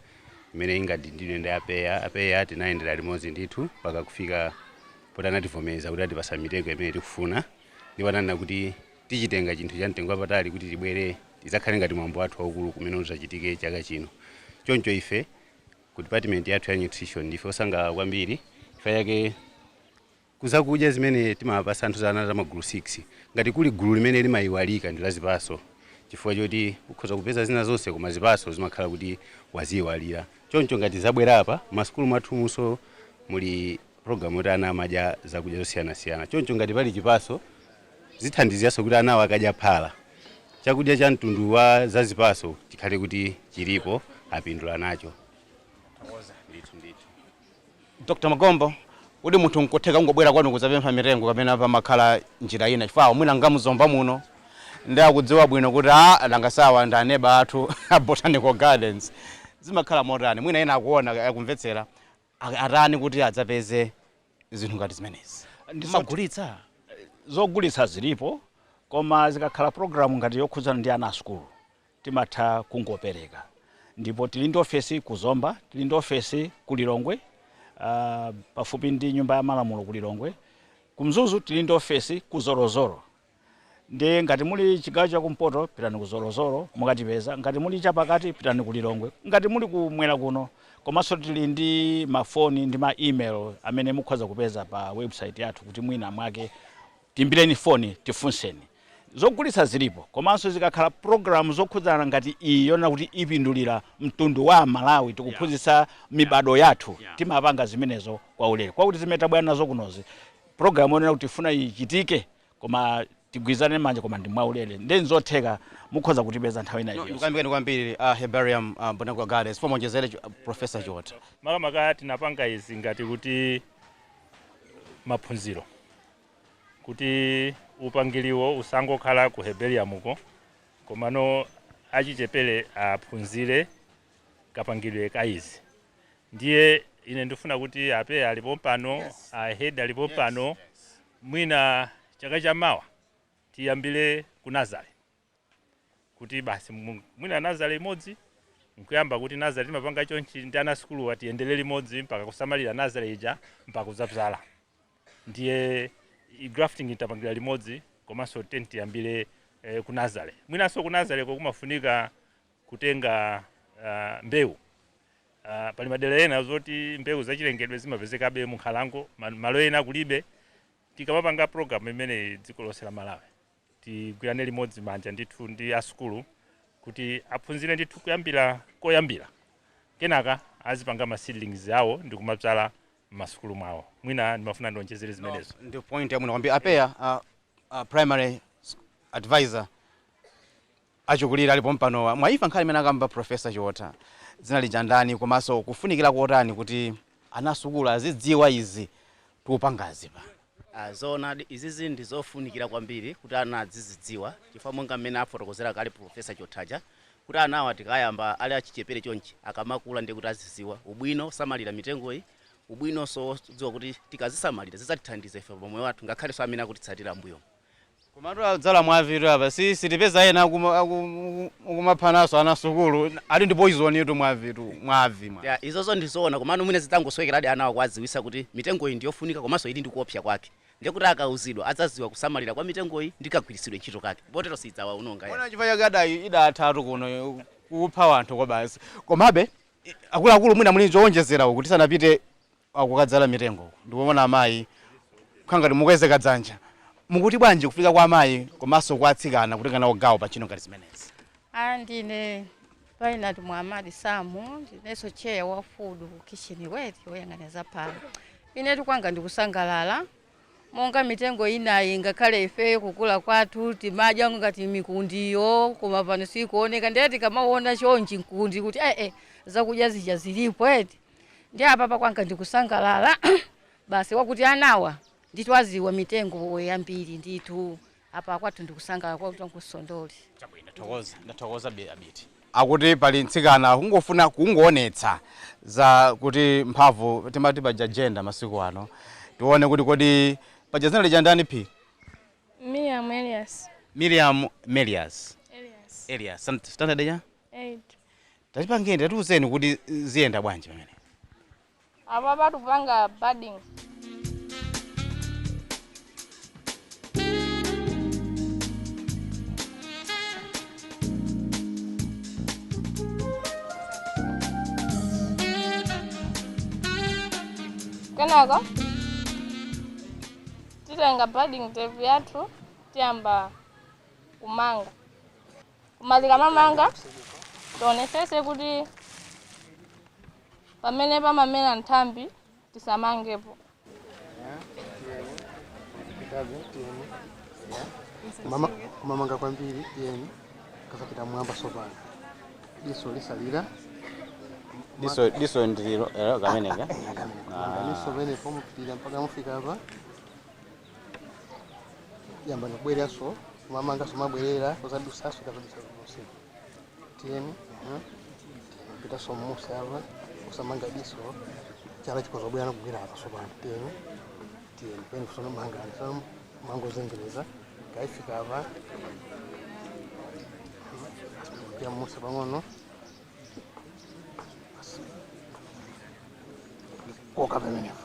imene ingadindidwe ndi a PEA. A PEA tinayendera limodzi ndithu mpaka kufika poti anativomereza kuti atipatsa mitengo imene tikufuna ndipo ananena kuti tichitenge chinthu cha mtengo wapatali kuti tibwere idzakhale ngati mwambo wathu waukulu umene udzachitike chaka chino. Choncho ife ku department yathu ya nutrition ndife osangalala kwambiri chifukwa chake. kuzakudya zimene timawapatsa anthu zija za magulu 6. Ngati kuli gulu limene limayiwalika ndi la zipatso chifukwa choti ukhoza kupeza zina zonse koma zipatso zimakhala kuti waziyiwalira. Choncho ngati zabwera apa, masukulu mwathumunso muli program yoti ana amadya zakudya zosiyanasiyana choncho ngati pali chipatso zithandiziranso kuti anawo akadya phala, chakudya cha mtundu wa za zipatso chikhale kuti chilipo apindula nacho. Tathokoza. Ndithu ndithu. Dr Magombo, kodi munthu nkutheka kungobwera kwanu kudzapempha mitengo kapena pamakhala njira ina chifukwa awo mwina nga mu Zomba muno nde akudziwa bwino kuti alangiziwa ndi aneba athu a Botanical Gardens. Zimakhala motani? Mwina ena akuona, akumvetsera ak atani kuti adzapeze zinthu ngati zimenezi? Ndi zoti mumagulitsa? zogulitsa zilipo koma zikakhala program ngati yokhudzana ndi ana asukulu timatha kungopereka ndipo tili ndi ofesi ku Zomba, tili ndi ofesi ku Lilongwe uh, pafupi ndi nyumba ya malamulo ku Lilongwe, ku Mzuzu tili ndi ofesi ku Zolozolo nde ngati muli chigawo cha kumpoto pitani ku Zolozolo mukatipeza, ngati muli chapakati pitani ku Lilongwe, ngati muli kumwera kuno komanso tili ndi mafoni ndi ma email amene mukhoza kupeza pa website yathu kuti mwina mwake Tiimbireni foni, tifunseni. Zogulitsa zilipo, komanso zikakhala program zokhudzana ngati iyi yonena kuti ipindulira mtundu wa aMalawi tikuphunzitsa mibadwo yathu timapanga zimenezo kwaulere. Kwakuti zimene tabwera nazo kunozi program yonena kuti tifuna ichitike koma tigwirane manja koma ndi mwaulere nde nzotheka mukhoza kutipeza nthawi ina iliyonse. Ndikuyamikeni kwambiri a Herbarium Botanical Gardens chifukwa mwachezera Prof Chiotha. Makamaka tinapanga izi ngati kuti maphunziro. kuti upangiliwo usangokhala ku Herbariumuko komano achichepele aphunzire kapangiridwe ka izi ndiye ine ndifuna kuti a PEA ali pompano a head ali pompano mwina chaka chamawa tiyambile ku nazale kuti basi mu- mwina nazale imodzi nkuyamba kuti nazale timapanga chonchi ndi ana sukulu aja tiyendere limodzi mpaka kusamalira nazale ija mpaka kudzabzala ndi i- grafting ija tipangire limodzi komanso tingoti tiyambire eh, ku nazale mwinanso ku nazale ko kumafunika kutenga ah, mbewu Ah, pali madera ena zoti mbewu zachilengedwe zimapezekabe mu nkhalango ma- malo ena kulibe tikamapanga program imeneyi dziko lonse la malawi tigwirane limodzi manja ndithu ndi asukulu kuti aphunzire ndithu kuyambira koyambira kenaka azipanga ma seedlings awo ndi kumabzala m'masukulu mwawo mwina ndimafuna ndionjezere zimenezo ndi point yabwino kwambiri a PEA uh, uh, primary s- advisor Achikulire ali pompanowa mwaimva nkhani imene akamba Prof Chiotha. Dzina lija ndani komanso kufunikira kotani kuti ana asukulu azidziwa izi tikupangazi pano? Aaa zoonadi izizi ndi zofunikira kwambiri kuti ana adzizidziwa chifukwa monga mmene afotokozera kale Prof Chiotha aja kuti anawa tikayamba ali achichepere chonchi akamakula ndiye kuti azidziwa ubwino wosamalira mitengoyi, ubwinonso wodziwa kuti tikazisamalira zidzatithandiza ife pamoyo wathu ngakhalenso amene akutitsatira m'mbuyomu. Komatu adzala mwavi tu apa si sitipeza ena akuma akumaphananso ana sukulu ati ndi poison tu mwavi tu mwavi mwa. Yeah, izozo ndi zoona komano mwina zidzangosowekeradi anawa kuwadziwitsa kuti mitengoyi ndi yofunika komanso ili ndi kuopsa kwake ndiye kuti akauzidwa adzadziwa kusamalira kwa mitengoyi ndi kagwiritsidwe ntchito kake potero siidzawaononga Muona yayi. chifukwa chake adayi idathatu kuno eh, kupha wanthu kwake basi komabe i- akuluakulu mwina muli chowonjezera kuti tisanapite kukadzala mitengo uku ndikuona amayi akukhala ngati mukweza kadzanja mukuti bwanji kufika kwa amayi komanso kwa atsikana kutenga nawo gawo pa ntchito ngati zimenezi? A ndine Painati Muhamadi Samu ndinenso chair wa food kitchen eti woyang'anira za phala. Inetu kwanga ndikusangalala monga mitengo inayi ngakhale ifeyo kukula kwathu timadya ngati mikundiyo koma pano sikuoneka ndiye tikamaona chonchi mkundi kuti ee zakudya zija zilipo eti Ndiye apapa kwanga ndikusangalala basi wakuti anawa ndithu adziwa mitengo yambiri ndithu apa kwathu ndikusangalala kwa tsiku la leroli Chabwino, thokoza ndathokoza bi- abiti akuti pali mtsikana kungofuna kungoonetsa za kuti mphamvu timati paja jenda masiku ano tione kuti kodi paja zina lija ndani phi Miriam Elias. miriam elias Elias. elias Stan- standard ya Tatipangeni, tatiuzeni kuti ziyenda bwanji pamene. apa patupanga budding kenaka titenga budding tepu yathu tiyamba kumanga koma tikamamanga tionetsetse kuti pamene pamamera nthambi tisamangepo kumamanga kwambiri tiyeni kasapita m'mwamba sopano diso lisalira diso diso ndililo eh, kameneka Ah. ganiso penepo mupitira mpaka mufike apa yambani kubwereranso kumamanganso mabwerera kuzadusanso kazadusa kudusa tiyeni mhm. pitanso mmusi apa musamanga diso chala chikazabweranso kugwira apa sopano tiyeni tiyeni peni tsono mangani tsono mangozungulira kafika apa mmusi pang'ono koka pamenepo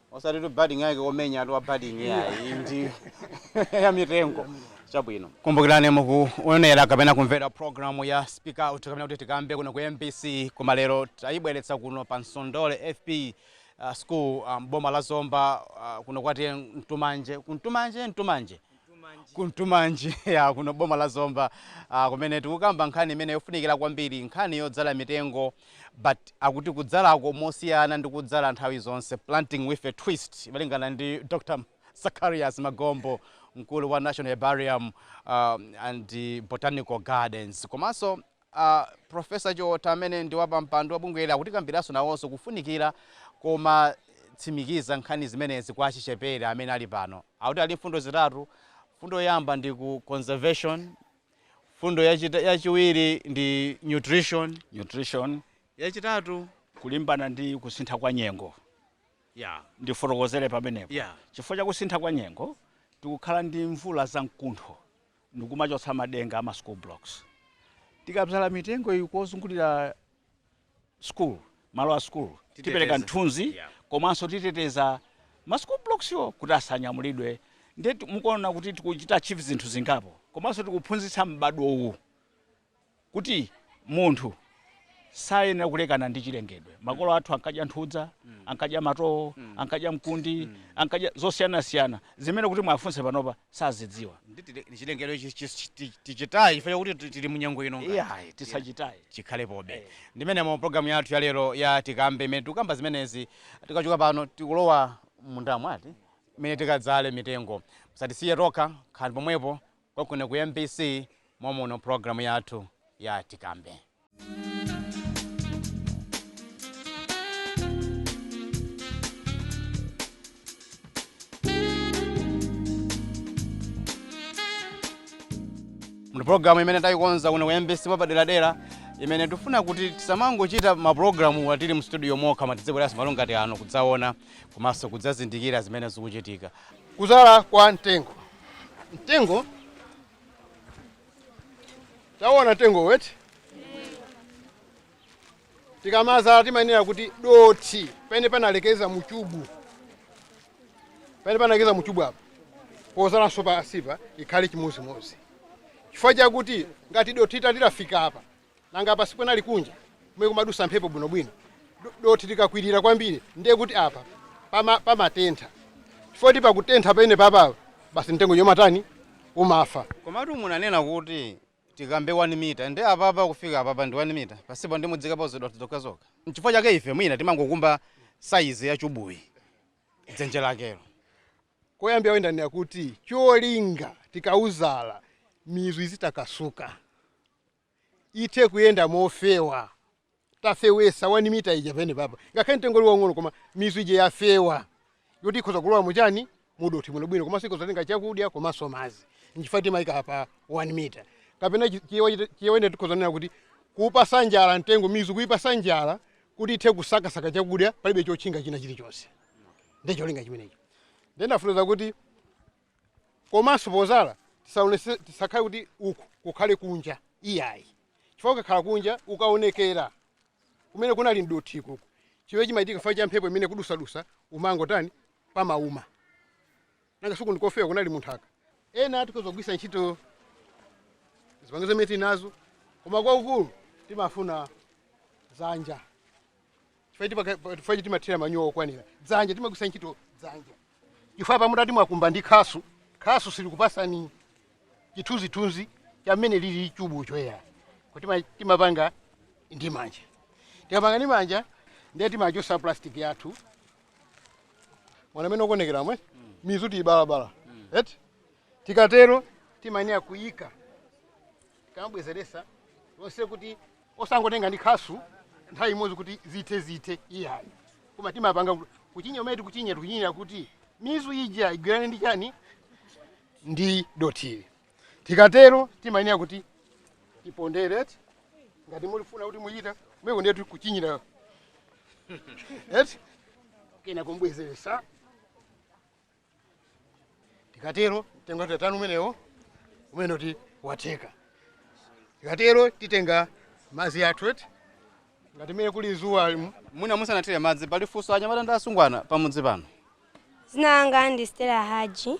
osatitu budding yake yomenyatu ya batting ayi ndi ya mitengo chabwino kumbukirani mukuonera kapena kumvera programu ya speak out kapena kuti tikambe kuno ku mbc koma lero tayibweretsa kuno pa msondole fp uh, school m'boma la zomba uh, kuno kwa t/a kuntumanje kuntumanje ntumanje Kuntumanji, ya kuno boma la Zomba, ah, kumene tikukamba nkhani imene yofunikira kwambiri, nkhani yodzala mitengo but akuti kudzalako mosiyana ndi kudzala nthawi zonse, planting with a twist, malingana ndi Dr. Zacharias Magombo, mkulu wa National Herbarium ah, and Botanical Gardens komanso A Profesa Chiotha amene ndi wapampando wa bungweli akutikambilaso nawoso kufunikila komatsimikiza nkhani zimenezi kwa achichepele amene ali pano. Akuti ali mfundo zitatu, mfundo yoyamba ndi ku conservation, mfundo yachita yachiwiri ndi nutrition, nutrition, yachitatu. kulimbana ndi kusintha kwa nyengo. Yeah. Ndifotokozele pamenepo. Yeah. Chifukwa chakusintha kwa nyengo, tikukhala ndi mvula za mkuntho ndikumachotsa madenga ama school blocks tikabzala mitengo iyi kuzungulira school malo a school Titeteza. tipereka mthunzi Yeah. komanso titeteza ma school blocks-wo kuti asanyamulidwe nde mukuona kuti tikuchita achieve zinthu zingapo komanso tikuphunzitsa m'badwo uwu kuti munthu sayenera kulekana ndi chilengedwe. Makolo athu ankadya nthudza, ankadya matowo, ankadya mkundi, ankadya zosiyanasiyana zimene kuti muwafunse panopa sazidziwa. Ndi tile- ndi chilengedwe chi- chi- chi- ti- tichitaye chifukwa chakuti ti- tili munyengo ino ngati. Iyayi, tisachitaye. chikhalepobe. Eh. Ndiye mu programu yathu ya lero ya tikambe imene tikukamba zimenezi tikachoka pano tikulowa m'mundamo ati mmene tikadzale mitengo musatisiye tokha khalani pomwepo Konkuno ku mbc mommuno program yathu ya tikambe. Mu program imene tayikonza kuno ku mbc mwapaderadera imene tifuna kuti tisamangochita maprogramu atili mu studio mokha koma tizibweranso malo ngati ano kudzaona komanso kudzazindikira zimene zikuchitika Kudzala kwa mtengo. Mtengo tawona mtengo woti tikamadzala timayenera kuti dothi pamene panalekeza muchubu pamene panalekeza muchubu apo pozalanso pansipa ikhale chimodzimodzi chifukwa chakuti ngati dothi litafika apa Nanga apa sikunali kunja kumene kumadusa mphepo bwinobwino? Do dothi likakwirira kwambiri ndiye kuti apa pama pamatentha. Chifukwa choti pakutentha pamenepapa basi mtengo uja umatani? Umafa. Komatu munanena kuti tikumbe 1 mita ndiye apapa kufika apapa ndi 1 mita? Pansipa ndiye mudziikapo zidothi zokhazokha. N'chifukwa chake ife mwina timangokumba saizi ya chubuyi, dzenje lakelo. Koyambira ndanena kuti cholinga tikauzala mizu izitakasuka, ithe kuyenda mofewa tafewetsa 1 mita ija pamenepapa ngakhale mtengo uli waung'ono koma mizu ija yafewa yoti ikhoza kulowa muchani mudothi bwino bwino komanso ikhoza kutenga chakudya komanso madzi nchifukwa timayika pa 1 mita kapena chichewa china tikhoza kunena kuti kuupasa njala mtengo mizu kuipasa njala kuti ithe kusakasaka chakudya palibe chotchinga china chilichonse. nde cholinga chimenecho ndiye ndafunza kuti komanso pozala tisaonese- tisakhale kuti uku kukhale kunja iyayi chifukwa ukakhala kunja ukaonekera kumene kunali mdothi kuku chimene chimachitika chifukwa cha mphepo imene ikudusadusa umangotani? umauma Nanga si uku ndikofewa kunali munthaka. Ena tikhoza kugwiritsa ntchito zipangizo zimene tili nazo koma kwakukulu timafuna dzanja chifukwa tipaka- pa- chifukwa choti timathira manyowa okwanira dzanja timagwiritsa ntchito dzanja chifukwa mutati mwakumba ndi khasu khasu silikupasani chithunzithunzi cha mmene lili chubu choyera kuti ma- timapanga ndi manja tikapanga ndi manja ndiye timachosa plastic yathu mwaona mmene ukuonekeramu mizu tiyibalabala eti tikatero timayenera kuyika tikamabwezeresa lonse kuti osangotenga ndi khasu nthawi imodzi kuti zithe zithe iyayi koma timapanga kuti- kuchinya umene tikuchinya tikuchinyira kuti mizu ija igwirane ndi chani ndi dotili tikatero timayenera kuti tipondere eti ngati mukufuna kuti muyita kumeko ndiye tikuchinyira eti kena kubwezeresa tikatero mtengo tatanu umenewo umene kuti watheka tikatero titenga madzi athu eti ngati mmene kuli zuwa limu mwina musanathire madzi pali funso anyamata ndi asungwana pamudzi pano Dzina langa ndi Stella Haji.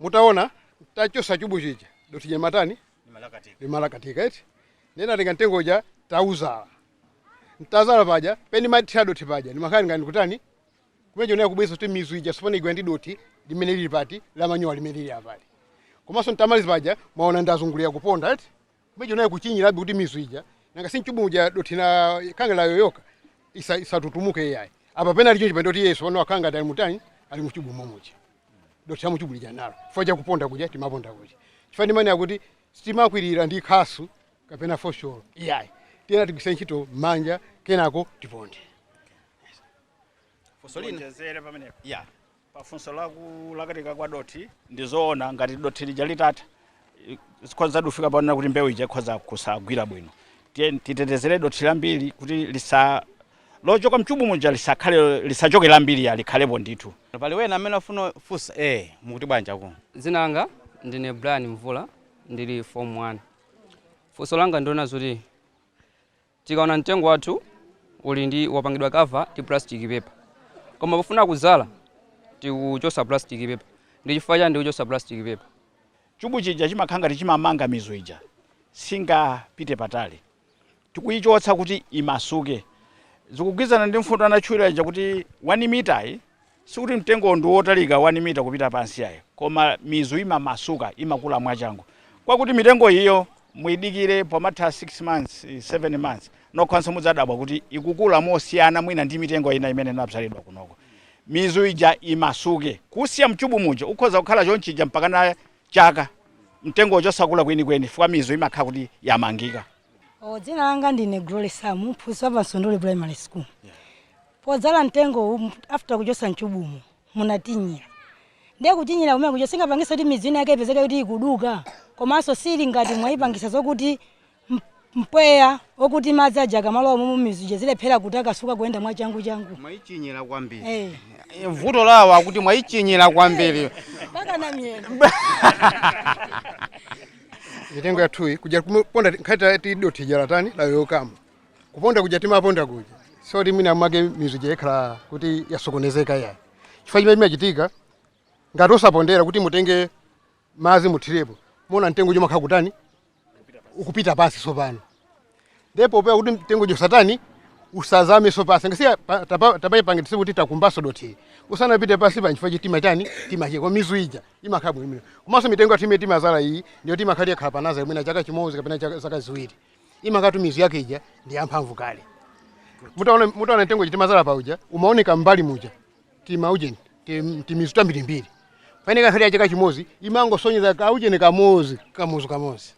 mutaona nditachosa chubu chija doti lija limatani limalakatika eti ndinatenga mtengo uja tauzala nditazala paja pamene ndimathira doti paja ndimakhala ngati ndikutani kumecho naye kubweza kuti mizu ija sopano igwirane ndi doti limene lili pati la manyowa limene lili apali komanso nditamaliza paja mwaona ndazungulira kuponda eti Mbeja nayo kuchinyirabe kuti mizu ija nanga si mchubu uja dothi na kangalayo yoka isa- isatutumuke iyayi apa pena ali chonchi pano kuti yesu pano akhala ngati ali mutani ali muchubu momuja dothi la muchubu lija nalo chifukwa cha kuponda kuja timaponda kuja chifukwa ndimanena kuti sitimakwirira ndi khasu kapena fosholo iyayi tiyenera tigwirise ntchito manja kenako tiponde Kuonjezera pamenepo. ya Pa funso la kulakatika kwa dothi, ndi zoona ngati dothi lija litatha zikhozadi kufika ponena kuti mbewu ija ikhoza kusagwira bwino. Tiye titetezere dothi lambiri kuti lisa lochoka mchubu muja lisakhale lisachoke lambiri ya likhalepo ndithu. Pali wena amene afuna funsa? Eh, mukuti bwanji akulu? Dzina langa ndine Brian Mvula ndili form 1. Funso langa ndi lonena zoti Tikaona mtengo wathu uli ndi wapangidwa cover ndi plastic paper koma pofuna kudzala tikuchotsa plastic paper ndi chifukwa chani tikuchotsa plastic paper? Chubu chija chimakhala ngati chimamanga mizu ija singapite patali tikuichotsa kuti imasuke zikugwirizana ndi mfundo anatchula ija kuti 1 mitayi Sikuti mtengowo ndi wotalika 1 mita kupita pansi iyayi, koma mizu imamasuka, imakula mwachangu. Kwakuti mitengo iyo muyidikire pomatha 6 months, 7 months, nokhanso mudzadabwa kuti ikukula mosiyana mwina ndi mitengo ina imene inabzalidwa kunoko. Mizu ija imasuke. Kusiya m'chubu muja ukhoza kukhala chonchija mpakana chaka mtengowo osakula kwenikweni chifukwa mizu imakhala kuti yamangika. Dzina langa ndine Glory Samu, mphunzitsi wa pa Msunduli Primary School. Podzala mtengowu after kuchotsa mchubumo munatinyira. Ndiye kutinyira kumene kuja singapangise kuti mizu ina yake ipezeke kuti ikuduka komanso sili ngati mwaipangisa zokuti mpweya okuti madzi aja akamalowa mumu mizu ija zilephera kutakasuka kuyenda mwachanguchangu. Mwaitinyira kwambiri. Hey. Eh. Vuto lawo akuti mwaitinyira kwambiri. Hey. Mpakana mwina. Mitengo yathuyi kuja kuponda nkhata ya tido tijara tani la yokamu. kuponda kuja timaponda kuja osati mwina mwake mizu ija ikhala kuti yasokonezeka yayi chifukwa chimene chimachitika ngati osapondera kuti mutenge madzi muthirepo muona mtengo uja umakhala ukutani ukupita pansi tsopano ndi popewa kuti mtengo uja usatani usazame zopangitsa tapangitsa kuti takumbaso dothi usanapite pansi pa nchifukwa chake timachani timache kwa mizu ija imakhala bwinobwino komanso mitengo yathu imene timazala iyi ndiyo timakhala yakhala pa nazale mwina chaka chimodzi kapena chaka- zaka ziwiri imakhalatu mizu yake ija ndi yamphamvu kale mutaona mutaona mtengo timazala pa uja umaoneka mbali muja tima ujeni tim- timizu tambirimbiri paine kankhali yache chaka chimozi imangosonyeza kaujeni kamozi kamuzu kamozi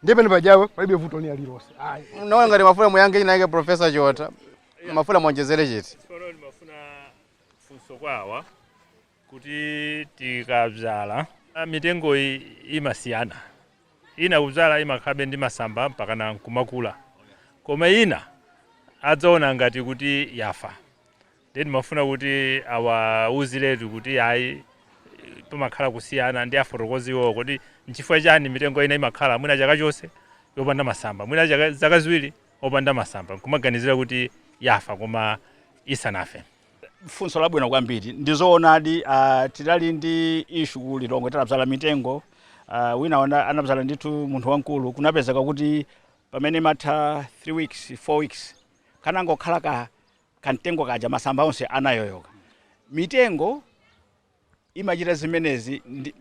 ndiyeno pajapo palibe vuto lina lililonse ayi naona ngati mumafuna muyankhe inayike profesa chiotha mumafuna muonjezere chiti tsono ndimafuna funso kwawa kuti tikabzala mitengoyi imasiyana ina kubzala imakhalabe ndi masamba mpakana nkumakula koma ina adzaona ngati kuti yafa then ndimafuna kuti awauziretu kuti ayi pamakhala kusiyana ndiye afotokoze iwowo kuti nchifukwa chani mitengo ina imakhala mwina chaka chonse yopanda masamba mwina chaka- zaka ziwiri opanda masamba nkumaganizira kuti yafa koma isanafe funso labwino kwambiri ndizoonadi uh, tidali ndi ishu ku lilongwe tinabzala mitengo uh, wina wana- anabzala ndithu munthu wamkulu kunapezeka kuti pamene amatha 3 weeks 4 weeks kanangokhala ka kamtengo kaja masamba onse anayoyoka mitengo imachita zimenezi ndi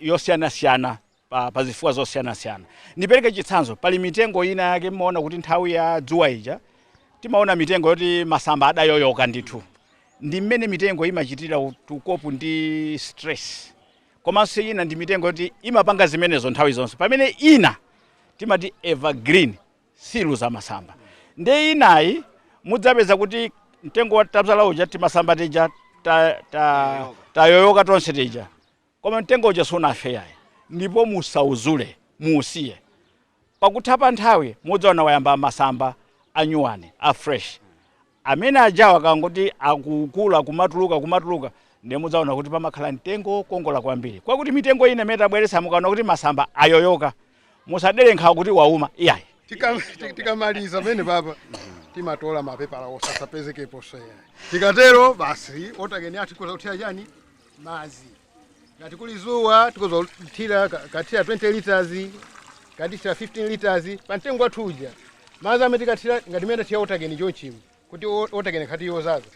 yosiyanasiyana pa, pa zifukwa zosiyanasiyana. Ndipereke chitsanzo, pali mitengo ina yake mumaona kuti nthawi ya dzuwa ija timaona mitengo yoti masamba adayoyoka ndithu. Ndi mmene mitengo imachitira to cope ndi stress. Komanso ina ndi mitengo yoti imapanga zimenezo nthawi zonse. Pamene ina timati evergreen sizitaya masamba. Ndiye inayi mudzapeza kuti mtengo tabzala uja timasamba tija ta, ta, tayoyoka tonse tija koma mtengo uja sunafe yayi ndipo musauzule muusiye pakutha pa nthawi mudzaona wayamba masamba anyuwani a fresh Amene aja akangoti akukula kumatuluka kumatuluka ndiye mudzaona kuti pamakhala mtengo wokongola kwambiri kwakuti mitengo ina imene tabweretsa mukaona kuti masamba ayoyoka musadere nkhawa kuti wauma iyayi. Tika- tikamaliza pamenepa pa timatola mapepala osapezekeponso iyayi tikatero basi water can yathu kudza kuthira chani madzi ngati kuli zuwa tikhoza kuthira ka- kathira 20 liters katithira 15 liters pa mtengo wathu uja madzi amene tikathira ngati mmene tiya water can chonchimu kuti o- water can ikhala yodzadza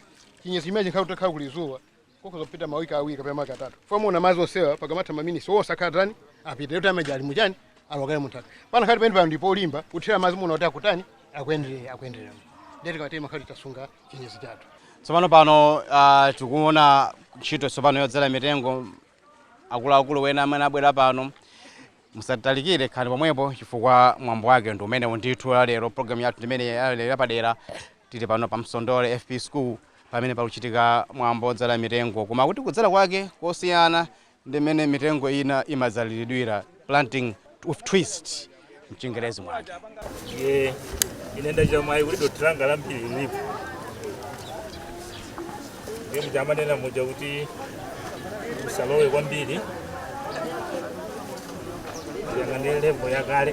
chinyezi chimene chikhala kutakhala kuli zuwa tikhoza kupita mawiki awiri kapena mawiki atatu muona madzi onsewa pakamatha maminitsi onse akhatani apita yoti amaja ali muchani alowa kale munthaka pana khati pamene pano ndipo olimba kuthira madzi muona kuti akutani akuyenderera akuyenderera ndiye kuti kawatema khati tasunga chinyezi chathu tsopano pano uh, tikuona ntchito tsopano yodzala mitengo akuluakulu ena amene abwera pano musatalikire khalani pomwepo chifukwa mwambo wake ndi umenewu ndithu la lero programu yathu ndimene ya lero tili pano pa msondole fp school pamene pakuchitika mwambo wodzala mitengo koma kuti kudzala kwake kosiyana Ndi mmene mitengo ina imadzaliridwira, planting with twist m'Chingerezi mwake. Ndiye ine ndachita mwayi kuti dothi langa lambiri lilipo. Ndiye muja amanena muja kuti musalowe kwambiri yang'anani level yakale.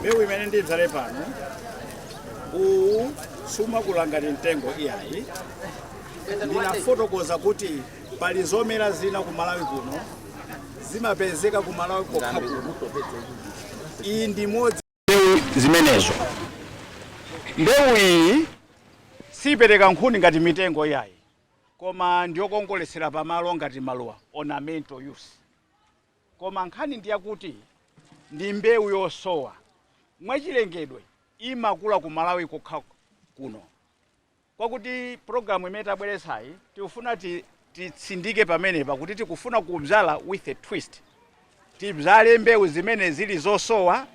mbewu imene ndidzale pano uwu sumakula ngati mtengo iyayi ndinafotokoza kuti pali zomera zina ku malawi kuno zimapezeka ku malawi kokha kuno iyi ndi imodzi mbewu zimenezo. Mbewu iyi siipereka nkhuni ngati mitengo iyayi, koma ndiyokongoletsera pamalo ngati maluwa, ornamental use. Koma nkhani ndi yakuti ndi mbewu yosowa. Mwachilengedwe imakula ku Malawi kokha kuno. kwakuti program imene tabweretsayi tikufuna ti titsindike pamenepa kuti tikufuna kudzala with a twist tibzale mbewu zimene zili zosowa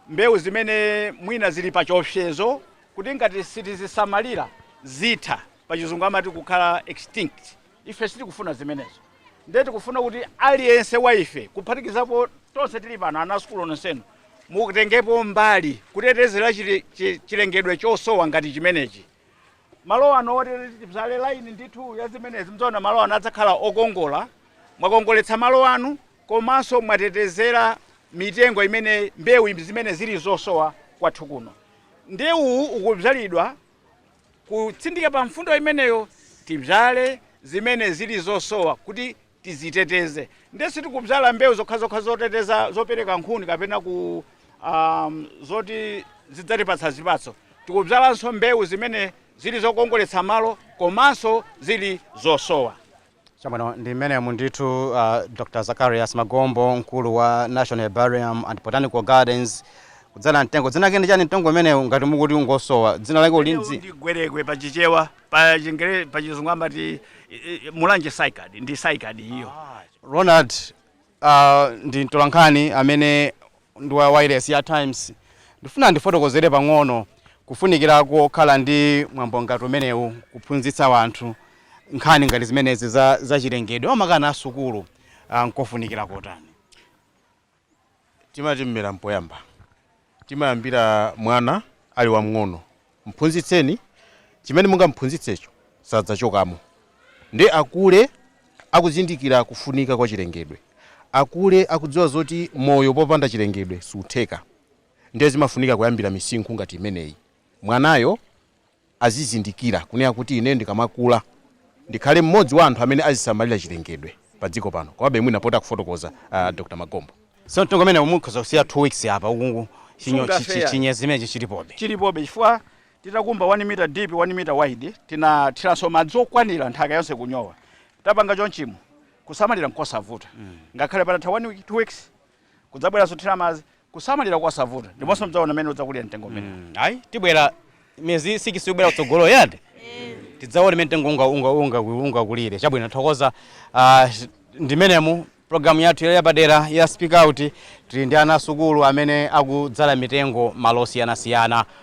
mbewu zimene mwina zili pa chiopsezo kuti ngati sitizisamalira zitha pachizungu amati kukhala extinct Ife sitikufuna zimenezo. Ndiye tikufuna kuti aliyense wa ife, kuphatikizapo tonse tili pano, ana a sukulu nonsenu, mutengepo mbali kutetezera chili- chi- chilengedwe chosowa ngati chimenechi. Malo anu oti tibzale line ndithu ya zimenezi, mudzaona malo anu adzakhala okongola. Mwakongoletsa malo anu komanso mwatetezera mitengo imene, mbewu zimene zili zosowa kwathu kuno. Ndiye uwu ukudzalidwa Kutsindika pa mfundo imeneyo, tibzale zimene zili zosowa kuti tidziteteze. Ndiye sitikubzala mbewu zokhazokha zoteteza, zopereka nkhuni kapena ku, um, zoti zidzatipatsa zipatso. Tikubzalanso mbewu zimene zili zokongoletsa malo komanso zili zosowa. Chabwino, ndi mmenemu ndithu uh, Dr. Zacharias Magombo, mkulu wa National Herbarium and Botanical Gardens, kudzala mtengo. Dzina lake ndi chani mtengo umenewu ngati mukuti ungosowa? Dzina lake uli ndi? ndi gwerekwe pa chichewa pa chingere pa chizungu amati eh, eh, mulanje saikadi ndi saikadi iyo Ronald, Uh, ndi mtolankhani amene ndi wa wireless ya Times ndifuna ndifotokozere pang'ono kufunikira kokhala ndi mwambo ngati umenewu kuphunzitsa wanthu nkhani ngati zimenezi za, za chilengedwe makamaka ana asukulu uh, nkofunikira kotani timati mmera mpoyamba Timayambira mwana ali wamng'ono. Mphunzitseni chimene mungamphunzitsecho sadzachokamo. Ndiye akule akuzindikira kufunika kwa chilengedwe. Akule akudziwa zoti moyo popanda chilengedwe sutheka. Ndiye zimafunika kuyambira misinkhu ngati imeneyi. Mwanayo azizindikira kunena kuti ineyo ndikamakula ndikhale mmodzi wa anthu amene azisamalira chilengedwe padziko pano Komabe mwina apa poti akufotokoza a Dr. Magombo. So mtengo umenewu mukhoza kusiya 2 weeks apa ukungu chinyo chi- Sungafe chi- yani. chinyezi chimenechi chilipobe. chilipobe chifukwa titakumba 1 mita deep 1 mita wide tinathiranso madzi okwanira nthaka yonse kunyowa tapanga chonchimo kusamalira n'kosavuta ngakhale patatha 1 week 2 weeks kudzabweranso kuthira madzi kusamalira kosavuta ndiponso mudzaona mmene udzakulira mtengo umene Mm, ayi tibwera miyezi sikisi yobwera kutsogoloyi eti tidzaone mmene mtengo unga- unga- unga- ungakulire chabwino thokoza ah, ndi mmenemu programu yathu yali yapadera ya speak out tili ndi ana asukulu amene akudzala mitengo malo osiyanasiyana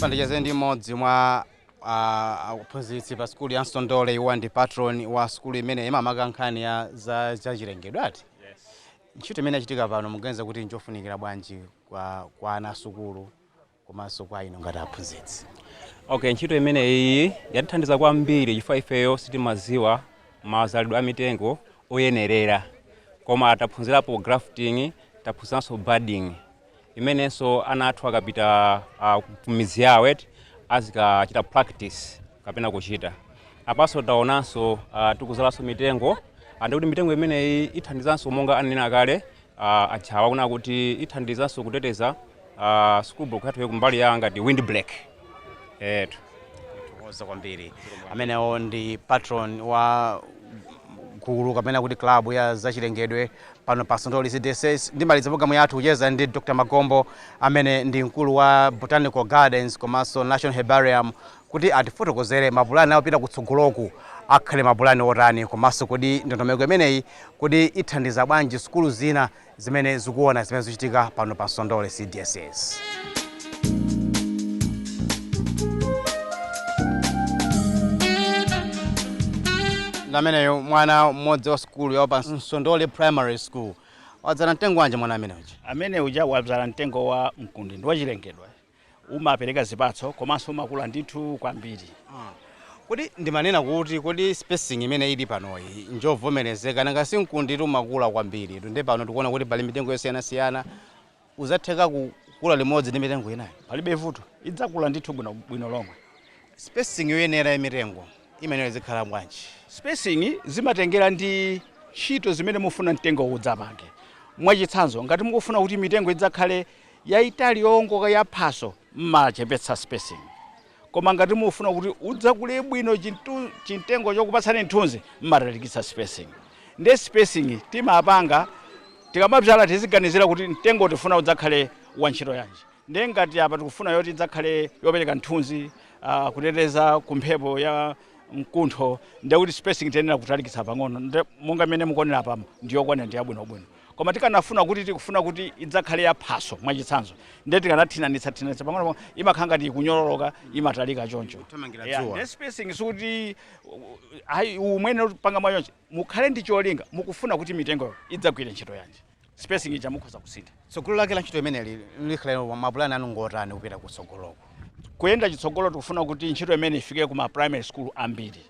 pano ndicheze ndi mmodzi mwa ah, aphunzitsi pa sukulu ya msondole iwo ndi patron wa sukulu imene makamaka nkhani ya za zachilengedwe eti ntchito imene yachitika pano muganiza kuti ndi yofunikira bwanji kwa, kwa ana asukulu komanso kwa inu ngati aphunzitsi. Okay, ntchito imeneyi yatithandiza kwambiri chifukwa ifeyo sitimadziwa mazalidwe a mitengo oyenerera, koma taphunzirapo grafting, taphunziranso budding imenenso ana athu akapita uh, kumidzi yawo eti azikachita practice kapena kuchita apanso taonanso uh, tikuzalanso mitengo ande kuti mitengo imeneyi ithandizanso monga ananena kale Uh, aja waona kuti ithandizanso kuteteza uh, school book yathu kumbali ya ngati wind break etu oza kwambiri amenewo ndi patron wa gulu kapena kuti klabu ya zachilengedwe pano pa Nsondole CDSS ndimaliza programu yathu kucheza ndi Dr. Magombo amene ndi mkulu wa Botanical Gardens komanso National Herbarium kuti atifotokozere mapulani awo opita kutsogoloku akhale mapulani otani komanso kodi ndondomeko imeneyi kodi ithandiza bwanji sukulu zina zimene zikuona zimene zikuchitika pano pa Nsondole CDSS. Nde ameneyo mwana mmodzi wa sukulu ya pa Nsondole Primary School wadzala mtengo wanji mwana amene uja amene uja wadzala mtengo wa mkundi ndi wachilengedwe umapereka zipatso komanso umakula ndithu kwambiri. Kodi ndimanena kuti kodi spacing imene ili panoyi njovomerezeka nanga si mkunditu umakula kwambiri nde pano tikuona kuti pali mitengo yosiyanasiyana udzatheka kukula limodzi ndi mitengo inayo? Palibe vuto, idzakula ndithu bwinobwino lomwe. Spacing yoyenera ya mitengo imeneyo izikhala bwanji? Spacing zimatengera ndi ntchito zimene mufuna mtengowo udzapange. Mwachitsanzo, ngati mukufuna kuti mitengo idzakhale yaitali yowongoka ya phaso mmachepetsa spacing koma ngati mufuna kuti udzakule bwino chimtengo chokupatsani mthunzi mmatalikitsa spacing nde spacing timapanga tikamabzala tiziganizira kuti mtengo tifuna udzakhale wa ntchito yanji nde ngati apa tikufuna yoti idzakhale yopereka mthunzi uh, kuteteza kumphepo ya mkuntho ndekuti spacing tiyenera kutalikitsa pang'ono nde monga mmene mukuoneramu pano ndiyokwanira ndiyabwinobwino koma tikanafuna kuti tikufuna kuti idzakhale ya phaso mwachitsanzo ndiye tikanathinanitsa thinanitsa pang'ono pang'ono imakhala ngati ikunyololoka imatalika choncho Kuthamangira Yeah, dzuwa. Nde spacing sikuti ayi mungopanga mwachoncho mukhale ndi cholinga mukufuna kuti mitengoyo idzagwire ntchito yanji spacing ija mukhoza kusintha tsogolo lake la ntchito imeneyi likhala mapulani anu ngotani kupita kutsogoloku kuyenda chitsogolo tikufuna kuti ntchito imeneyi ifike ku ma primary school ambiri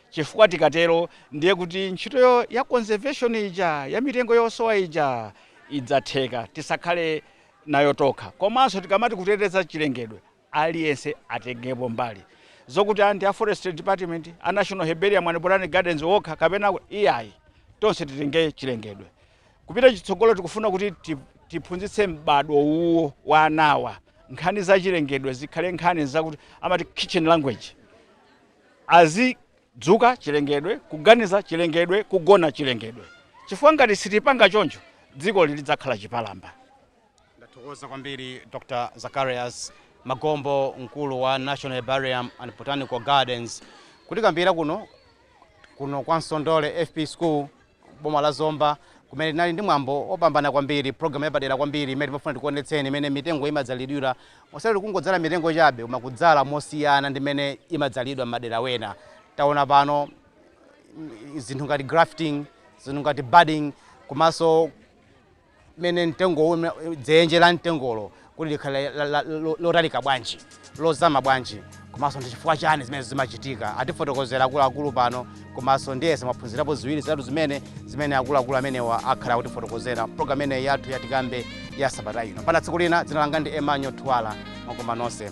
chifukwa tikatero ndiye kuti ntchito ya conservation ija ya mitengo yosowa ija idzatheka tisakhale nayo tokha komanso tikamati kuteteza chilengedwe aliyense atengepo mbali zokuti a ndi a forestry department a national herbarium and botanic gardens okha kapena iyayi tonse titenge chilengedwe kupita chitsogolo tikufuna kuti ti- tiphunzitse m'badwo uwu wa anawa nkhani za chilengedwe zikhale nkhani zakuti amati kitchen language Azidzuka chilengedwe, kuganiza chilengedwe, kugona chilengedwe. Chifukwa ngati sitipanga choncho, dzikoli lidzakhala chipalamba. Ndathokoza kwambiri Dr Zacharias Magombo mkulu wa National Herbarium and Botanical Gardens kutikambira kuno kuno kwa Nsondole FP School. boma la Zomba kumene tinali ndi mwambo opambana kwambiri program yapadera kwambiri imene timafuna tikuonetseni mmene mitengo imadzalidwira osati kungodzala mitengo chabe koma kudzala mosiyana ndi mmene imadzalidwa mmadera wena taona pano zinthu ngati grafting zinthu ngati budding komanso mmene mtengowu, mme- dzenje la mtengolo kuti likhale la- la- la- lo- lotalika bwanji lozama bwanji komanso ndi chifukwa chani zimene zimachitika atifotokozera akuluakulu pano komanso ndiyesa mwaphunzirapo ziwiri zitatu zimene zimene akuluakulu amenewa akhala akutifotokozera programu imeneyi yathu yatikambe ya sabata ino mpaka tsiku lina dzina langa ndi Emmanuel Thuwala mwakoma nonse